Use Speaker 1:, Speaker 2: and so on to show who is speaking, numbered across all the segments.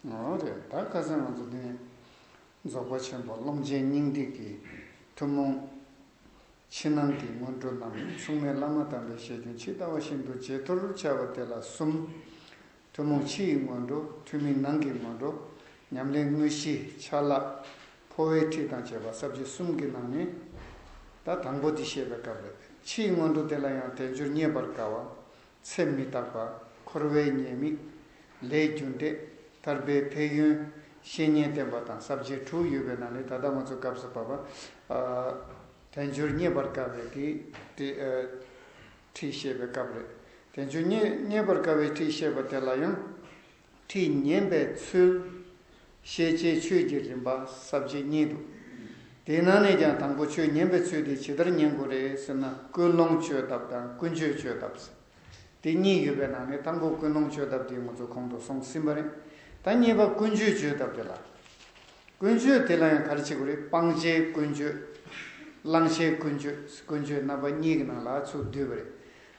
Speaker 1: ད་བཀའ་སྩལ་ང་ཚོ་འདི་ནས་རྫོགས་པ་ཆེན་པོ་ཀློང་ཆེན་སྙིང་ཏིག་གི་ཐུན་མོང་ཕྱི་ནང་གི་སྔོན་འགྲོ་རྣམས་མཚུངས་མེད་བླ་མ་དམ་པའི་བཤད་རྒྱུན་ཇི་ལྟ་བ་བཞིན་དུ་ཇེ་མཐོར་འཕྱར་བ་དེ་ལ་གསུམ། ཐུན་མོང་ཕྱི་ཡི་སྔོན་འགྲོ་ཐུན་མིན་ནང་གི་སྔོན་འགྲོ་ཉམས་ལེན་དངོས་གཞི་ཆ་ལག་འཕོ་བའི་ཁྲིད་དང་བཅས་པ་གསར་བརྗེ་གསུམ་གྱི་ནང་ནས་ད་དང་པོ་འདི་བཤད་པའི་སྐབས་རེད་ཕྱི་ཡི་སྔོན་འགྲོ་དེ་ལ་ཡང་དལ་འབྱོར་རྙེད་པར་དཀའ་བ་ཚེ་མི་རྟག་པ། འཁོར་བའི་ཉེས་དམིགས། ལས་རྒྱུ་འབྲས། ཐར་པའི་ཕན་ཡོན། བཤེས་གཉེན་བསྟེན་པ་དང་ཟབ་ཆོས་དྲུག་ཡོད་པའི་ནང་ནས་ད་ལྟ་ང་ཚོ་སྐབས་སུ་བབ་པ། དལ་འབྱོར་རྙེད་པར་དཀའ་བའི་དེ་ཁྲིད་བཤད་པའི་སྐབས་རེད། དལ་འབྱོར་རྙེད་པར་དཀའ་བའི་ཁྲིད་བཤད་པ་དེ་ལ་ཡང། ཁྲིད་ཉན་པའི་ཚུལ། ཤེས་བྱའི་ཆོས་ཀྱི་རིམ་པ་ཟབ་བཅས་གཉིས་འདུག། དེའི་ནང་ནས་ཀྱང་དང་པོ་ཆོས་ཉན་པའི་ཚུལ་དེ་ཇི་ལྟར་ཉན་དགོས་རེད་ཟེར་ན་ཀུན་སློང་བཅོས་ཐབས་དང་ཀུན་སྤྱོད་བཅོས་ཐབས། དེ་གཉིས་ཡོད་པའི་ནང་ནས་དང་པོ་ཀུན་སློང་བཅོས་ཐབས་དེ་ང་ཚོ་གོང་དུ་སོང་ཟིན་པ་རེད། ད་གཉིས་པ་ཀུན་སྤྱོད་བཅོས་ཐབས་དེ་ལ། ཀུན་སྤྱོད་དེ་ལ་ཡང་གར་བྱེད་དགོས་རེད་སྤང་བྱའི་ཀུན་སྤྱོད། བླང་བྱའི་ཀུན་སྤྱོད་ཀུན་སྤྱོད་རྣམ་པ་གཉིས་ཀྱི་ནང་ལ་ཚུར་བསྡུས་པ་རེད།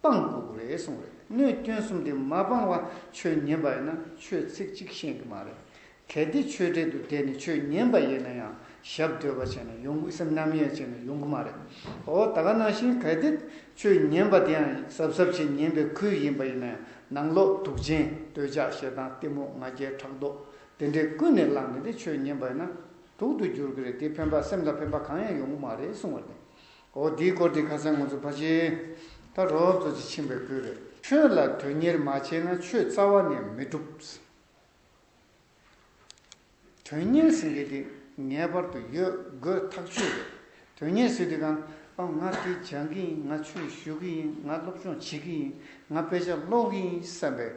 Speaker 1: སྤངས་དགོས་དགོས་རེད་གསུངས་རེད་གནོད་སྐྱོན་གསུམ་དེ་མ་སྤངས་བར་ཆོས་ཉན་པ་ཡིན་ན་ཆོས་ཚིག་གཅིག་ཤེས་གི་མ་རེད་གལ་ཏེ་ཆོས་དྲེད་དུ་བསྡད་ནས་ཆོས་ཉན་པ་ཡིན་ན་ཡང་ཞབས་སྡོད་པ་བྱས་ན་ཡོང་གི་སེམས་རྣམ་གཡེང་བྱས་ན་ཡོང་གི་མ་རེད་འོ་ད་ག་ནང་བཞིན་གལ་ཏེ་ཆོས་ཉན་པ་དེ་ཡང་གཟབ་གཟབ་བྱས་ཉན་པའི་ཁུལ་ཡིན་པ་ཡིན་ན་ཡང་ནང་ལོག་དུག་ཅན་འདོད་ཆགས་ཞེ་སྡང་གཏི་མུག་ང་རྒྱལ་ཕྲག་དོག་དེ་འདྲས་ཀུན་ནས་བསླངས་ནས་དེ་ཆོས་ཉན་པ་ཡིན་ན་དུག་ཏུ་འགྱུར་གི་རེད་དེ་ཕན་པ་སེམས་ལ་ཕན་པ་གང་ཡང་ཡོང་གི་མ་རེད་གསུངས་བ་རེད་འོ་འདིའི་སྐོར་དེ་ཁ་སང་ང་ཚོ་ཕ་ཆེན་ད་རོབ་གཙོ་ཆེ་ཆེན་པོས་བསྐུལ་རེད། ཆོས་ལ་དོན་གཉེར་མ་བྱས་ན་ཆོས་རྩ་བ་ནས་མི་འགྲུབ། དོན་གཉེར་ཟེར་མཁན་དེ་ངེས་པར་དུ་ཡོད་དགོས་ཐག་ཆོད་རེད། དོན་གཉེར་ཟེར་དུས་གང། ཨ་ང་དེ་སྦྱང་གི་ཡིན་ང་ཆོས་ཞུ་གི་ཡིན་ང་སློབ་སྦྱོང་བྱེད་ཀྱི་ཡིན་ང་དཔེ་ཆ་ཀློག་གི་ཡིན་བསམ་པའི་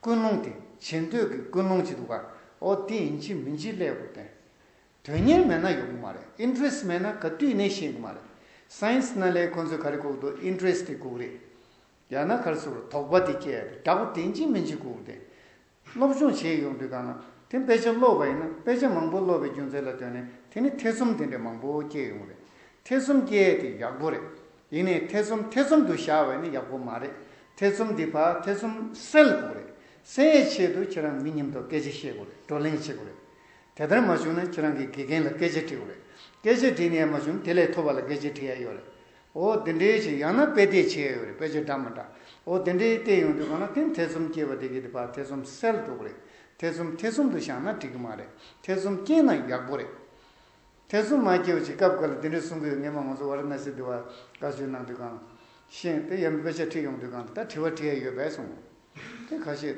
Speaker 1: ཀུན་སློང་དེ་བྱེད་འདོད་ཀྱི་ཀུན་སློང་ཅིག་འདུག་ག་འོ་དེ་ཡིན་གྱི་མིན་གྱི་ཀླད་ཀོར་བསྟན། དོན་གཉེར་མེད་ན་ཡོང་གི་མ་རེད interest མེད་ན་ག་དུས་ནས་ཤེས་གི་མ་རེད science ནཱ་ལེནྜ་ཁོ་ཚོའི་ག་རེ་གུག་འདུག interest དེ་གུག་རེད་ཡང་ན་གར་སོར་དོགས་པ་དེ་སྐྱེ་ཡ་རེད་དྲ་པོ་དེ་འཇིག་མི་འཇིག་གུག་རེད་སློབ་སྦྱོང་བྱེད་ཡོང་དུས་གང་ན་དེ་དཔེ་ཆ་ཀློག་པ་ཡིན་ན་དཔེ་ཆ་མང་པོ་ཀློག་པའི་རྒྱུ་མཚན་ལ་ལྟོས་ནས་དེ་ནི་ཐེ་ཚོམ་དེ་འདྲས་མང་པོ་སྐྱེ་ཡོང་རེད་ཐེ་ཚོམ་སྐྱེ་ཡ་དེ་ཡག་པོ་རེད་ཡིན་ནའི་ཐེ་ཚོམ་ཐེ་ཚོམ་དུ་བཞག་བས་ནི་ཡག་པོ་མ་རེད་ཐེ་ཚོམ་འདི་བར་ཐེ་ཚོམ་སེལ་དགོས་རེད་སེལ་ཡའི་ཆེད་དུ་ཁྱེད་རང་མི་ཉིམ་ཐོག་སྐད་ཆ་བཤད་དགོས་རེད་བགྲོ་གླེང་བྱེད་དགོས་རེད་དེ་ལྟར་མ་བྱུང་ན་ཁྱེད་རང་གི་དགེ་རྒན་ལ་སྐད་ཆ་དྲི་བ་རེད། སྐད་ཆ་དྲིས་ནས་ཡ་མ་བྱུང་ན་དེ་ལས་མཐོ་བ་ལ་སྐད་ཆ་དྲི་ཡ་ཡོད་རེད། འོ་དེ་འདྲའི་ཆེད་ཡང་ན་དཔེ་བལྟས་བྱེད་ཡ་ཡོད་རེད་དཔེ་ཆ་འདྲ་མ་འདྲ། འོ་དེ་འདྲའི་བལྟས་ཡོང་དུས་གང་ལ་ཐེན་ཐེ་ཚོམ་སྐྱེས་པ་དེ་གི་དེ་བར་ཐེ་ཚོམ་སེལ་འགྲོ་གི་རེད། ཐེ་ཚོམ་ཐེ་ཚོམ་དུ་བཞག་ན་འགྲིག་གི་མ་རེད་ཐེ་ཚོམ་སྐྱེས་ན་ཡག་པོ་རེད། ཐེ་ཚོམ་མ་སྐྱེས་བ་ཅིག་སྐབས་འགར་ལ་དེ་འདྲའི་གསུང་གི་ངེས་མ་ང་ཚོ་བར་ན་སི་དི་བ་དགའ་བསུའི་ནང་དུ་གང། ཤེས་དེ་ཡ་མི་དཔེ་ཆ་ཁྲིད་ཡོང་དུས་གང་དེ་ལྟར་དྲི་བ་དྲི་ཡ་ཡོད་པས་སོང། དེ་ག་ཤེད།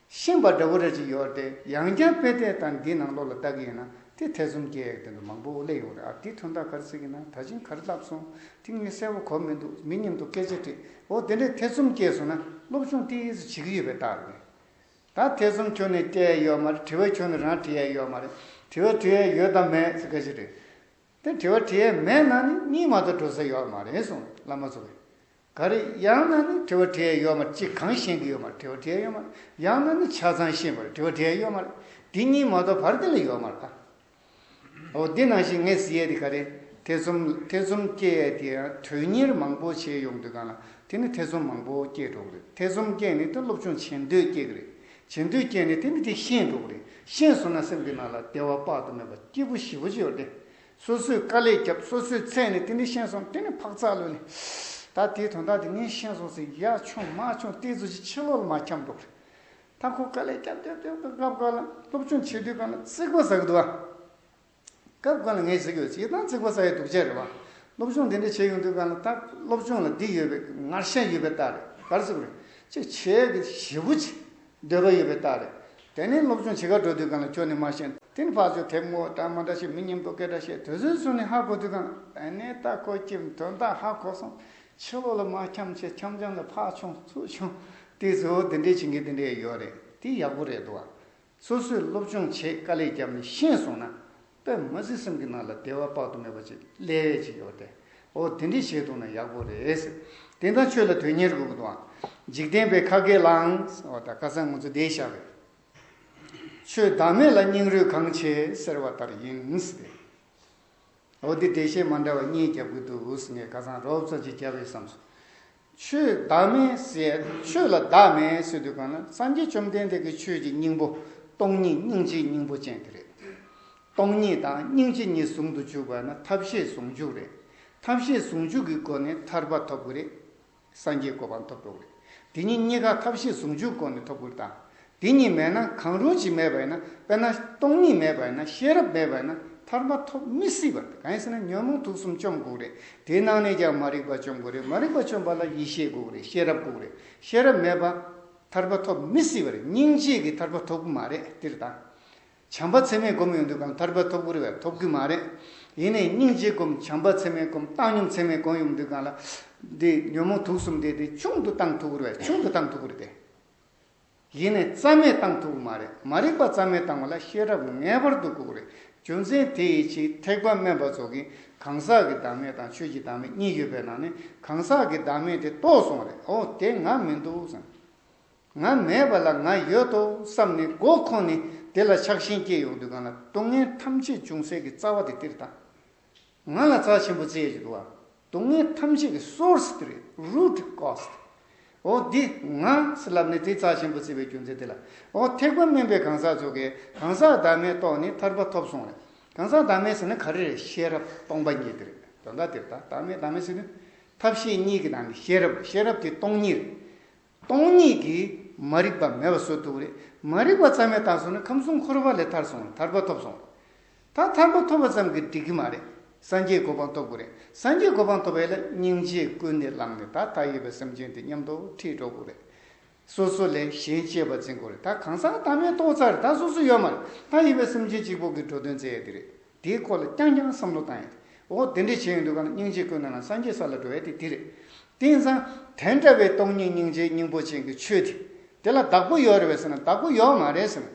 Speaker 1: ཤིང་པ་འདྲ་བོ་རེ་ཅིག་ཡོད་དེ་ཡང་བསྐྱར་དཔེ་དེ་དང་འདི་ནང་ལོགས་ལ་བལྟ་གི་ཡིན་ན་དེ་ཐེ་ཚོམ་སྐྱེ་ཡག་དོན་དུ་མང་པོ་ཨོ་ལེ་ཡོང་རེད་ཨ་དེ་ཐོན་ཐག་གར་ཚིག་ཡིན་ན་ད་ཕྱིན་གར་བསླབ་སོང་དེ་ངས་གསལ་བོ་གོ་མི་འདུག་མི་སྙམ་དུ་སྐད་ཆ་དྲིས་འོ་དེ་འདྲའི་ཐེ་ཚོམ་སྐྱེས་སོང་ན་སློབ་སྦྱོང་ཏི་ཡས་སུ་བྱེད་ཀྱི་ཡོད་པའི་རྟགས་རེད་ད་ཐེ་ཚོམ་ཁྱོད་ནས་སྐྱེ་ཡས་ཡོད་མ་རེད་དྲི་བ་ཁྱོད་ནས་རང་དྲི་ཡས་ཡོད་མ་རེད་དྲི་བ་དྲི་ཡས་ཡོད་དམ་མེད་ཚིག་ག་ཞིག་རེད་དེ་དྲི་བ་དྲི་ཡས་མེད་ན་ནི་གཉིད་མ་གཏོགས་འགྲོ་ས་ཡོད་མ་རེད་གསུངས་བླ་མ་ཚོ་གིས་ག་རེ། ཡང་ན་ནི་དྲི་བ་དྲི་ཡའི་གཡོག་མ་གཅིག་གང་བཞེངས་ཀྱི་གཡོག་མར་དྲི་བ་དྲི་ཡའི་གཡོག་མ། ཡང་ན་ནི་ཆ་ཚང་ཤེས་པར་དྲི་བ་དྲི་ཡའི་གཡོག་མ། འདི་གཉིས་མ་གཏོགས་བར་དེ་ལ་གཡོག་མར་གདའ། འོ་འདི་ནང་བཞིན་ངས་ཟེར་ཡས་དེ་ག་རེ། ཐེ་ཚོམ་ལ་ཐེ་ཚོམ་སྐྱེ་ཡས་དེ་ཡང་དོན་གཉེར་མང་པོ་བྱས་ཡོང་དུས་གང་ལ་དེ་ནི་ཐེ་ཚོམ་མང་པོ་སྐྱེས་འགྲོ་གི་རེད་ཐེ་ཚོམ་སྐྱེས་ནས་དེ་སློབ་སྦྱོང་བྱེད་འདོད་སྐྱེས་ཀྱི་རེད། བྱེད་འདོད་སྐྱེས་ནས་དེ་ནི་དེ་ཤེས་འགྲོ་གི་རེད་ཤེས་སོང་ན་སེམས་ཀྱི་ནང་ལ་བདེ་བ་དཔག་ཏུ་མེད་པ་སྐྱིད་པོ་ཞིབ་པོ་ཅིག་ཡོད་རེད་དེ། སོ་སོས་དཀའ་ལས་བརྒྱབ་སོ་སོས་ཚད་ནི་དེ་ནས་ཤེས་སོང་དེ་ནས་འཕག་འཚག་ལོས་ནི། ད་དེའི་དོན་དག་དེ་ངས་ཤེས་སོང་ཟེར་ཡ་ཆུང་མ་ཆུང་ལྟས་ཚོ་ཅིག་ཕྱི་ལོག་ལ་མ་འཁྱམས་འགྲོ་གི། ད་ཁོ་དཀའ་ལས་བརྒྱབ་བརྒྱབ་བརྒྱབ་སྐབས་སྐབས་སྐབས་ལ་སློབ་སྦྱོང་བྱེད་དུས་གང་ལ་རྩིག་པ་ཟག་འདུག་ཨ། སྐབས་སྐབས་ལ་ངས་གཟིགས་ཡོད་ཚེ་ཡི་དམ་རྩིག་པ་ཟག་ཡོད་འདུག་བྱས་རེད་བ། སློབ་སྦྱོང་དེ་འདྲ་བྱས་ཡོང་དུས་གང་ལ་ད་སློབ་སྦྱོང་ལ་སྡིག་ཡོད་པའི་ངར་ཤ་ཡོད་པའི་རྟགས་རེད་གར་ཟིག་རེད་ཅེས་བྱས་ཀྱི་ཞེ་བོ་ཅིག། འདོད་པ་ཡོད་པའི་རྟགས་རེད། དེ་ནི་སློབ་ཆུང་བྱེད་ཁར་འགྲོ་དུས་གང་ལ་ཁྱོད་ནི་མ་ཤེས། དེ་ནི་ཕག་ཚོས་དེབ་ངོ་བལྟ་མ་འདྲ་ཞིག་མི་སྙམ་དུ་སྐད་སྒྲ་བཤད། དུས་ཚོད་སོང་ནས་ཧ་གོ་དུས་གང་ལ། དེ་ནི་རྟགས་ཁོ་སྐྱིབས་དོན་དག་ཧ་གོ་སོང། ཕྱི་ལོགས་ལ་མ་འཁྱམས་ཆེ་འཁྱམས་འཁྱམས་ལ་ཕག་ཆུང་ཚུར་ཆུང། དེ་གཙོ་བོ་འདི་འདྲའི་བྱིངས་ཀྱི་འདི་འདྲའི་ཡོད་རེད། དེ་ཡག་པོ་རེད་འདུག་བ། སོ་སོས་སློབ་ཆུང་བྱེད་དཀའ་ལས་རྒྱབ་ནས་ཤེས་སོང་ན། པདྨ་གཟི་སེམས་ཀྱི་ནང་ལ་བདེ་བ་དཔག་ཏུ་མེད་པ་ཅིག་སླེ་བས་ཅིག་ཡོད་དེ། ཨོ་དེ་འདྲི་བྱེད་འདུག་ན་ཡག་པོ་རེད། དེང་དང་ཆོས་ལ་དོན་གཉེར་དགོས་གི་འདུག་ཨང། འཇིག་རྟེན་པའི་ཁ་སྐད་ལའང། ཨོ་ད་ཀ་སང་ང་ཚོ་བསྡད་བཞག་གི། ཆོས་བདག་མེད་ལ་སྙིང་རུས་གང་ཆེ་ཟེར་བ་ལྟར་ཡིན་ཏེ། ཨོ་འདི་འགྲེལ་བཤད་མ་འདྲ་བ་གཉིས་རྒྱབ་གི་འདུག་ངས་ཀ་སང་རོབ་ཙམ་ཅིག་རྒྱབ་ཡོད་བསམ་སོང། ཆོས་བདག་མེད་ཟེར། ཆོས་ལ་བདག་མེད་ཟེར་དུས་གང་ན་སངས་རྒྱས་བཅོམ་ལྡན་འདས་ཀྱི་ཆོས་ཀྱི་སྙིང་པོ་སྟོང་ཉིད་སྙིང་རྗེའི་སྙིང་པོ་ཅན་དེ་རེད། སྟོང་ཉིད་དང་སྙིང་རྗེ་གཉིས་ཟུང་དུ་འཇུག་པ་ན་ཐབས་ཤེས་ཟུང་འཇུག་རེད། ཐབས་ཤེས་ཟུང་འཇུག་གི་སྒོ་ནས་ཐར་པ་ཐོབ་དགོས་རེད། སངས་རྒྱས་གོ་འཕང་ཐོབ་འགྲོ་གི་རེད། དེ་གཉིས་གཉིས་ཀ་ཐབས་ཤེས་ཟུང་འཇུག་སྒོ་ནས་ཐོབ་དགོས་རེད་དམ། དེ་གཉིས་མེད་ན་གང་རུང་ཞིག་མེད་པ་ཡིན་ན་དཔེར་ན་སྟོང་ཉིད་མེད་པ་ཡིན་ན་ཤེས་རབ་མེད་པ་ཡིན་ན་ཐར་པ་ཐོབ་མི་སྲིད་པ་རེད་གང་ཡིན་ཟེར་ན་ཉོན་མོངས་དུག་གསུམ་བཅོམ་དགོས་རེད་དེའི་ནང་ནས་ཀྱང་མ་རིག་པ་བཅོམ་དགོས་རེད་མ་རིག་པ་བཅོམ་པ་ལ་ཡེ་ཤེས་དགོས་རེད་ཤེས་རབ་དགོས་རེད་ཤེས་རབ་མེད་པ་ཐར་པ་ཐོབ་མི་སྲིད་པ་རེད་སྙིང་རྗེས་ཀྱི་ཐར་པ་ཐོབ་གི་མ་རེད་སྟེར་དང། བྱམས་པ་ཚད་མེད་སྒོམ་ཡོང་དུས་གང་ཐར་པ་ཐོབ་གི་རེད་ཐོབ་གི་མ་རེད་ཡིན་ནའི་སྙིང་རྗེ་སྒོམ་བྱམས་པ་ཚད་མེད་སྒོམ་བཏང་སྙོམས་ཚད་མེད་སྒོམ་ཡོང་དུས་གང་ལ་དེ་ཉོན་མོངས་དུག་གསུམ་དེ་དེ་ཆུང་དུ་བཏང་ཐུབ་གི་རེད་ཆུང་དུ་བཏང་ཐུབ་གི་རེད་དེ། གཞི་ནས་རྩ་མེད་བཏང་ཐུབ་མ་རེད་མ་རིག་པ་རྩ་མེད་བཏང་བ་ལ་ཤེས་རབ་ངེས་པར་དུ་དགོས་རེད་རྒྱུ་མཚན་དེ་ཡི་ཕྱིར་ཐེག་པ་དམན་པ་ཚོ་གིས་གང་ཟག་གི་བདག་མེད་དང་ཆོས་ཀྱི་བདག་མེད་གཉིས་ཡོད་པའི་ནང་ནས་གང་ཟག་གི་བདག་མེད་དེ་རྟོགས་སོང་རེད་ཨོ་དེ་ང་མི་འདུག་བསམ། ང་མེད་པ་ལ་ང་ཡོད་དོ་བསམ་ནས་མགོ་འཁོར་ནས་དེ་ལ་ཆགས་ཞེན་སྐྱེས་ཡོང་དུས་གང་ལ་སྡུག་བསྔལ་ཐམས་ཅད་འབྱུང་སྲིད་ཀྱི་རྩ་བ་དེ་དེར་བཏང། ང་ལ་རྩ་ཆེན་པོ་རྩེ་གཅིག་འདུག་ཨ། སྡུག་བསྔལ་ཐམས་ཅད་ཀྱི source དེ་རེད root cause དེ། འོ་དེ་ང་སྲིད་ལབ་ནས་དེ་རྩ་ཆེན་པོ་བརྩི་བའི་རྒྱུ་མཚན་དེ་ལ། འོ་ཐེག་པ་སྨིན་པའི་གང་ཟག་ཚོ་གས་གང་ཟག་བདག་མེད་རྟོགས་ནས་ཐར་པ་ཐོབ་སོང་རེད། གང་ཟག་བདག་མེད་ཟེར་ན་ག་རེ་རེད་ཤེས་རབ་སྟོང་པ་ཉིད་དེ་རེད་དོན་དག་དེ་རེད་ད་བདག་མེད་བདག་མེད་ཟེར་ནི་ཐབས་ཤེས་གཉིས་ཀྱི་ནང་གི་ཤེས་རབ་རེད་ཤེས་རབ་དེ་སྟོང་ཉིད་རེད། སྟོང་ཉིད་ཀྱི་མ་རིག་པ་མེད་པ་བཟོ་ཐུབ་རེད། མ་རིག་པ་ཙམ་མེད་ད་སོང་ནི་ཁམས་གསུམ་འཁོར་བ་ལས་ཐར་སོང་རེད་ཐར་པ་ཐོབ་སོང་རེད། ད་ཐར་པ་ཐོབ་པ་ཙམ་གྱིས་འགྲིག་གི་མ་རེད། སངས་རྒྱས་གོ་འཕང་ཐོབ་དགོས་རེད། སངས་རྒྱས་གོ་འཕང་ཐོབ་པའི་ལ་སྙིང་རྗེ་ཀུན་ནས་བླངས་ནས་ད་ལྟ་ཡོད་པའི་སེམས་ཅན་དེ་ཉམས་དོག་ཁྲིད་འགྲོ་དགོས་རེད། སོ་སོ་ལས་གཞན་གཅེས་པར་འཛིན་དགོས་རེད་ད་གང་ཟག་ད་མེད་ཏོག་ཙག་རེད་ད་སོ་སོ་ཡོད་མ་རེད་ད་ཡོད་པའི་སེམས་ཅན་གཅིག་པོ་གིས་འགྲོ་དོན་མཛད་ཡ་དེ་རེད། དེའི་སྐོར་ལ་རྐྱང་རྐྱང་བསམ་བློ་བཏང་ཡོད། འོ་དེ་འདྲས་བྱས་ཡོད་འདུག་ག་ན་སྙིང་རྗེ་ཀུན་སྣང་ལ་སངས་རྒྱས་ས་ལ་འགྲོ་བས་ཏེ་འདི་རེད། དེང་སང། དེ་འདྲ་བའི་སྟོང་ཉིད་སྙིང་རྗེའི་སྙིང་པོ་ཅན་གྱི་ཆོས་དེ། དེ་ལ་བདག་པོ་ཡོད་རེད་བས་ཟེར་ན་བདག་པོ་ཡོད་མ་རེད་ཟེར།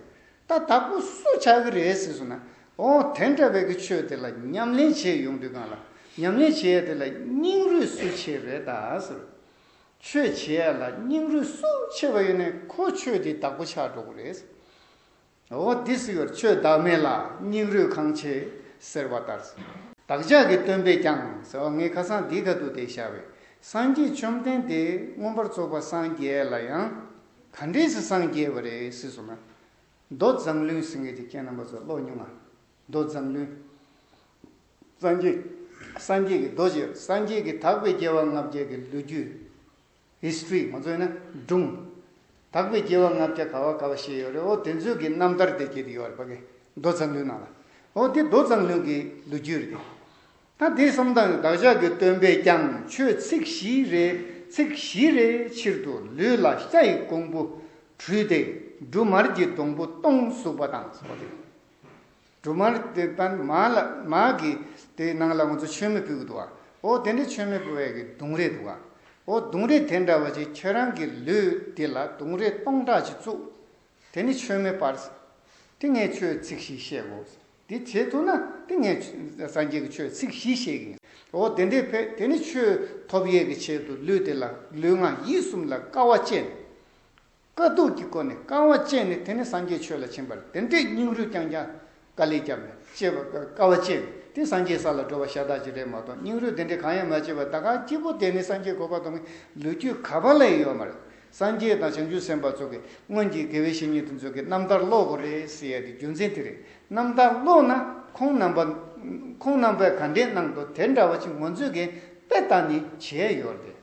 Speaker 1: ད་བདག་པོ་སུ་ཆགས་ཀྱི་རེད་ཟེར་སོང་ན། འོ་དེ་འདྲ་བའི་གི་ཆོས་དེ་ལ་ཉམས་ལེན་བྱས་ཡོང་དུས་གང་ལ་ཉམས་ལེན་བྱེད་ཡ་དེ་ལ་སྙིང་རུས་སུ་ཆེ་རེད་ད་ཟེར། ཆོས་བྱེད་ཡ་ལ་སྙིང་རུས་སུ་ཆེ་བ་ཡོད་ནས་ཁོ་ཆོས་དེའི་བདག་པོ་ཆགས་འགྲོ་གི་རེད། འོ་འདི་སྲིད་བར་ཆོད་བདག་མེད་ལ་སྙིང་རུས་གང་ཆེ་ཟེར་བ་ལྟར། བདག་ཅག་གི་སྟོན་པས་ཀྱང་ཟེར་བ་ངའི་ཁ་སང་འདི་ག་དུ་དེ་ཤར་བས་སངས་རྒྱས་བཅོམ་ལྡན་འདས་མངོན་པར་རྫོགས་པ་སངས་རྒྱས་ལ་ཡང་ག་འདྲས་སུ་སངས་རྒྱས་པ་རེད་ཟེར་སོང་ན། མདོ་བརྫངས་བླུན་སེང་གེ་ཀྱི་མཁན་རྣམ་པ་ཚོ་ཀློག་ཉུང་ང། མདོ་བརྫངས་བླུན། སངས་རྒྱས་སངས་རྒྱས་ཀྱི་རྡོ་རྗེ་སངས་རྒྱས་ཀྱི་དག་པའི་རྒྱལ་བ་ལྔ་བརྒྱད་ཀྱི་ལོ་རྒྱུས། History ང་ཚོས་ན་སྒྲུང། དག་པའི་སྐྱེ་བ་ལྔ་བརྒྱ་ག་བ་ག་བ་ཞེས་ཡོད་རེད་ཨོ་དེ་ཚོའི་གི་རྣམ་ཐར་དེ་ཀྱེ་དེ་ཡོད་རེད་པ་ཀྱེ་མདོ་ཙམ་ལུས་ནང་ལ་ཨོ་དེ་མདོ་ཙམ་ལུས་ཀྱི་ལོ་རྒྱུས་རེད་ཀྱེ། ད་དེ་གསུམ་དང་བདག་ཅག་གི་སྟོན་པས་ཀྱང་ཆོས་ཚིག་བཞི་རེ་ཚིག་བཞི་རེ་ཕྱིར་དུ་ལུས་ལ་ཤ་ཡི་ཀོང་བུ་བྲུས་ཏེ་འབྲུ་མར་གྱི་སྡོང་བུ་སྟོང་གཟུགས་པ་དང་ཟོ་དེ། འབྲུ་མར་དེ་པདྨ་ལ་མ་གི། དེའི་ནང་ལ་ང་ཚོ་མཆོད་མེ་ཕུལ་གི་འདུག་ཨ། ཨོ་དེ་འདྲའི་མཆོད་མེ་ཕུལ་བས་ཀྱི་དུང་རེ་འདུག་ཨ། ཨོ་དུང་རེ་དེ་འདྲ་བ་ཅིག་ཁྱེད་རང་གི་ལུས་འདི་ལ་དུང་རེ་སྟོང་ཕྲག་ཅིག་བཙུགས། དེ་ནི་མཆོད་མེ་སྤར། ཏིང་ངེ་ཆོས་ཚིག་བཞི་བཤད་དགོས། འདི་བྱེད་ཐུབ་ན་ཏིང་ངེ་སངས་རྒྱས་ཀྱི་ཆོས་ཚིག་བཞི་བཤད་ཀྱི། ཨོ་དེ་འདྲའི་བས་དེ་ནི་ཆོས་ཐོབ་ཡས་ཀྱི་ཆེད་དུ་ལུས་དེ་ལ་ལུས་ངག་ཡིད་གསུམ་ལ་དཀའ་བ་སྤྱད། དཀའ་སྡུག་གི་སྒོ་ནས་རྐང་བ་བཅད་ནས་དེ་ནས་སངས་རྒྱས་ཆོས་ལ་ཕྱིན་པར་དེ་འདྲའི་སྙིང་རུས་རྐྱང་རྐྱང་དཀའ་ལས་བསྐྱབས་ནས་སྐྱེ་བ་དཀའ་བ་སྤྱད་པས་དེ་སངས་རྒྱས་ས་ལ་འགྲོ་བ་ཤ་སྟག་ཅིག་རེད་མ་གཏོགས་སྙིང་རུས་དེ་འདྲའི་གང་ཡང་མ་སྤྱད་པར་ད་ག་སྐྱིད་པོ་བསྡད་ནས་སངས་རྒྱས་གོ་བ་མཐོང་བའི་ལོ་རྒྱུས་ག་པ་ལ་ཡང་ཡོད་མ་རེད། སངས་རྒྱས་དང་བྱང་ཆུབ་སེམས་དཔའ་ཚོ་གི་སྔོན་གྱི་དགེ་བའི་བཤེས་གཉེན་དེ་ཚོ་གི་རྣམ་ཐར་ཀློག་དགོས་རེད་ཟེར་ཡ་དེ་རྒྱུ་མཚན་དེ་རེད་རྣམ་ཐར་ཀློག་ན་ཁོང་རྣམ་པ་ཁོང་རྣམ་པས་ག་འདྲའི་གནང་འདུག་དེ་འདྲ་བ་ཅིག་ངོ་མཛོད་མཁན་དཔེ་ལྟ་ནི་བྱས་ཡོད་རེད།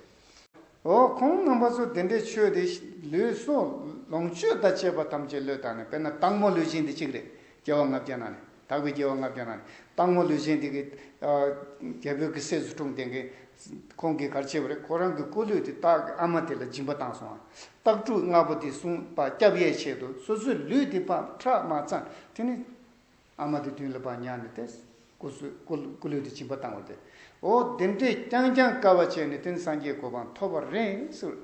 Speaker 1: འོ་ཁོང་རྣམ་པ་ཚོ་དེ་འདྲའི་ཆོས་དེ་ལུས་གསོ། ལོངས་སྤྱོད་དང་བཅས་པ་ཐམས་ཅད་བློས་བཏང་ནས་དཔེར་ན་སྟག་མོ་ལུས་ཅན་དེ་གཅིག་རེད་རྒྱལ་བ་ལྔ་བརྒྱ་ན་ནི་དག་པའི་རྒྱལ་བ་ལྔ་བརྒྱ་ན་ནི་སྟག་མོ་ལུས་ཅན་དེ་གི་རྒྱལ་པོའི་གི་སྲས་སུ་འཁྲུངས་དེ་གི་ཁོང་གི་གར་བྱེད་པ་རེད་ཁོ་རང་གི་སྐུ་ལུས་དེ་སྟག་གི་ཨ་མ་དེ་ལ་སྦྱིན་པ་བཏང་སོང་ཨ་སྟག་ཕྲུག་ལྔ་པོ་དེ་སྲུང་བ་སྐྱབས་ཡས་ཆེད་དུ་སོ་སོའི་ལུས་དེ་ཕམ་ཁྲག་མ་ཚང་དེ་ནི། ཨ་མ་དེ་དུས་ལ་བག་ཉལ་ནས་ཏེ། སྐུ་གསོལ། སྐུ་ལུས་དེ་བྱིན་པ་བཏང་བ་སྟེ། འོ་དེ་འདྲས་རྐྱང་རྐྱང་དཀའ་བ་སྤྱད་ནས་དེང་སངས་རྒྱས་གོ་འཕང་ཐོབ་པར་རེངས་སུ།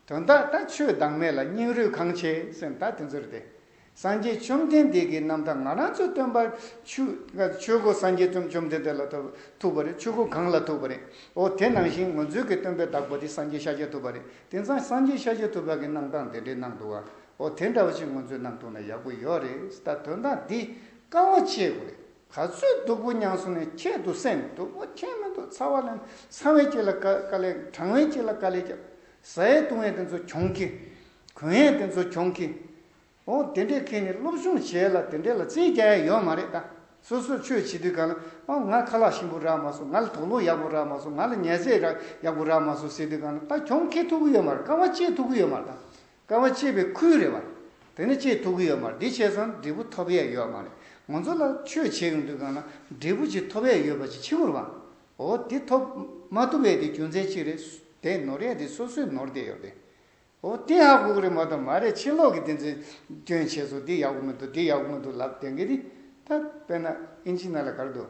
Speaker 1: དོན་དག་ད་ཆོས་བདག་མེད་ལ་སྙིང་རུས་གང་ཆེ་སེམས་ད་དེ་ཚོར་ཏེ། སངས་རྒྱས་བཅོམ་ལྡན་འདས་ཀྱི་རྣམ་ཐར་ང་རང་ཚོའི་སྟོན་པ། ཆོས་གོ་སངས་རྒྱས་བཅོམ་ལྡན་འདས་ལ་ཐུག་པ་རེད་ཆོས་གོ་གང་ལ་ཐུག་པ་རེད་འོ་དེ་ནང་བཞིན་ངོ་མཚོས་ཀྱི་སྟོན་པའི་བདག་པོ་དེ་སངས་རྒྱས་ཤཱཀྱ་ཐུབ་པ་རེད་དེང་སང་སངས་རྒྱས་ཤཱཀྱ་ཐུབ་པ་གྱི་གནང་སྟངས་དེ་འདྲས་གནང་འདུག་བ་ཨོ་དེ་འདྲ་བ་ཞིག་ང་ཚོའི་ནང་ཐུག་ན་ཡག་པོ་ཡོད་རེད་ད་དོན་དག་འདི་དཀའ་བ་ཆེ་དགོས་རེད་ག་ཚོད་སྡུག་པོ་མྱངས་སོང་ནས་ཁྱེད་འདུག་སེམས་སྡུག་པོ་ཁྱེད་མི་འདུག་ཚ་བ་ལེན་ཚང་བས་ཁྱེད་ལ་དཀའ་དཀའ་ལས་དྲང་བས་ཁྱེད་ལ་དཀའ་ལས་རྒྱབ་ཟ་ཡས་བཏུང་ཡས་དེ་ཚོ་གྱོང་གི་གུན་ཡས་དེ་ཚོ་གྱོང་གི་ཨོ་དེ་འདྲས་ཁྱེད་ནི་སློབ་སྦྱོང་བྱས་ལ་དེ་འདྲས་ལ་རྩིས་རྒྱག་ཡས་ཡོད་མ་རེད་ད་སོ་སོར་ཆོས་བྱེད་དུས་གང་ལ་ཨོ་ང་ཁ་ལག་ཞིམ་པོ་རག་མ་སོང་ང་ལ་དོག་ལུག་ཡག་པོ་རག་མ་སོང་ང་ལ་ཉལ་ཟས་རག་ཡག་པོ་རག་མ་སོང་ཟེར་དུས་གང་ལ་ད་གྱོང་ཁྱེད་ཐུག་གི་ཡོད་མ་རེད་དཀའ་བ་སྤྱད་ཐུག་གི་ཡོད་མ་རེད་ད་སྐར་མ་གཅིག་པའི་ཁུལ་རེད་བ། དེ་ནི་ཆེས་ཐུགས་ཀྱི་ཡོད་མ་རེད་འདི་བྱས་ཙང་འབྲས་བུ་ཐོབ་ཡས་ཡོད་མ་རེད་ང་ཚོ་ལ་ཆོས་བྱེད་ཀྱི་འདུག་ཡང་ན་འབྲས་བུ་ཅིག་ཐོབ་ཡས་ཡོད་པ་ཅིག་ཕྱི་མོར་བ། འོ་དེ་ཐོབ་མ་ཐུབ་ཡས་དེ་རྒྱུ་མཚན་ཅིག་རེད་དེ་ནོར་ཡས་དེ་སོ་སོས་ནོར་བསྡད་ཡོད་རེད། འོ་དེ་ཧ་གོ་གི་རེད་མ་གཏོགས་མ་རེད་ཕྱི་ལོག་གི་དེ་ཚོས་སྐྱོན་བྱས་སོ་དེ་ཡག་པོ་མི་འདུག་དེ་ཡག་པོ་མི་འདུག་ལབ་བསྡད་གི་རེད་ད་དཔེར་ན་ཨིན་ཇི་ནཱ་ལ་ག་རེ་འདུག་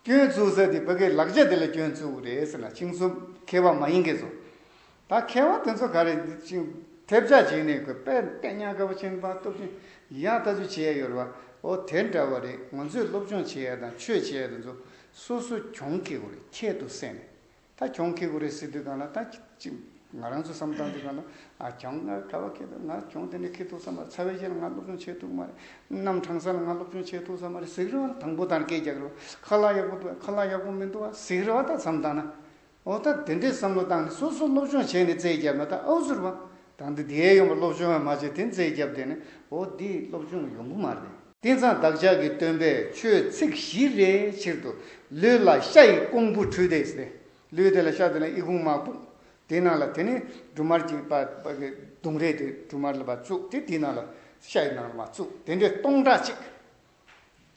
Speaker 1: སྐྱོན་བཙུགས་ཟེར་དེ་བོད་སྐད་ལག་རྗེས་དེ་ལ་སྐྱོན་བཙུགས་རེད་ཟེར་ན་ཅིང་ཚུབ་མཁས་པ་མ་ཡིན་གི་ཚོ། ད་མཁས་བ་དེ་ཚོ་ག་རེ་ཅིང་ཐེབས་ཆག་བྱེད་ནས་གོས་པད་སྟེ་ཉག་ག་བ་ཅན་པང་སྟོབས་ཅན་ཡང་ལྟ་ཚུལ་བྱེད་ཡ་ཡོད་རེད་བ་ཨོ་དེ་འདྲ་བ་རེད་ང་ཚོས་སློབ་སྦྱོང་བྱེད་ཡ་དང་ཆོས་བྱེད་ཡ་དེ་ཚོ་སོ་སོ་གྱོང་གི་གོ་རེ་ཁྱད་དུ་བསད་ནས་ད་གྱོང་ཁེ་གུ་རེ་སི་དུས་གང་ལ་ད་ཅིག་ང་རང་ཚོ་བསམ་སྟངས་དུས་གང་ལ་ང་གྱོང་ང་ག་བ་ཁེ་ཐུབ་ང་གྱོང་དེ་འདྲ་ཁེ་ཐུབ་ས་མ་རེད་ཚ་བའི་རྗེས་ལ་ང་སློབ་སྦྱོང་བྱེད་ཐུབ་མ་རེད་རྣམ་གྲངས་སར་ལ་ང་སློབ་སྦྱོང་བྱེད་ཐུབ་ས་མ་རེད་ཟིག་རེ་བ་ལ་དང་པོ་དང་སྐད་རྒྱག་རེ་བ་ཁ་ལག་ཡག་པོ་འདུག་ཨ་ཁ་ལག་ཡག་པོ་མི་འདུག་ཨ་ཟིག་རེ་བ་ད་བསམ་སྟངས་ན་འོ་ད་དེ་འདྲའི་བསམ་བློ་བཏང་ནས་སོ་སོ་སློབ་སྦྱོང་བྱས་ནས་རྩལ་བརྒྱབ་ན་ད་ཨོ་ཟེར་བ་ད་འདི་འདིའི་ཡོང་བ་སློབ་སྦྱོང་ཡང་མ་བྱས་དེ་རྩལ་བརྒྱབ་བསྡད་ནས་འོ་འདིའི་སློབ་སྦྱོང་ཡོང་གི་མ་རེད། རྟེན་བཟང་བདག་ཅག་གི་སྟོན་པས་ཆོས་ཚིག་བཞི་རེའི་ཕྱིར་དུ་ལུས་ལ་ཤ་ཡི་ཀོང་བུ་བྲུས་ཏེ། ལུས་དེ་ལ་ཤ་དེ་ལ་ཨི་ཁུང་མར་བུག། དེའི་ནང་ལ་དེ་ནས་འབྲུ་མར་གྱི་བརྡུངས་རེས་དེ་འབྲུ་མར་ལ་བ་བཙུགས་ཏེ་དེའི་ནང་ལ་ཤ་ཡི་ནང་ལ་མ་བཙུགས་དེ་འདྲའི་སྟོང་ཕྲག་གཅིག།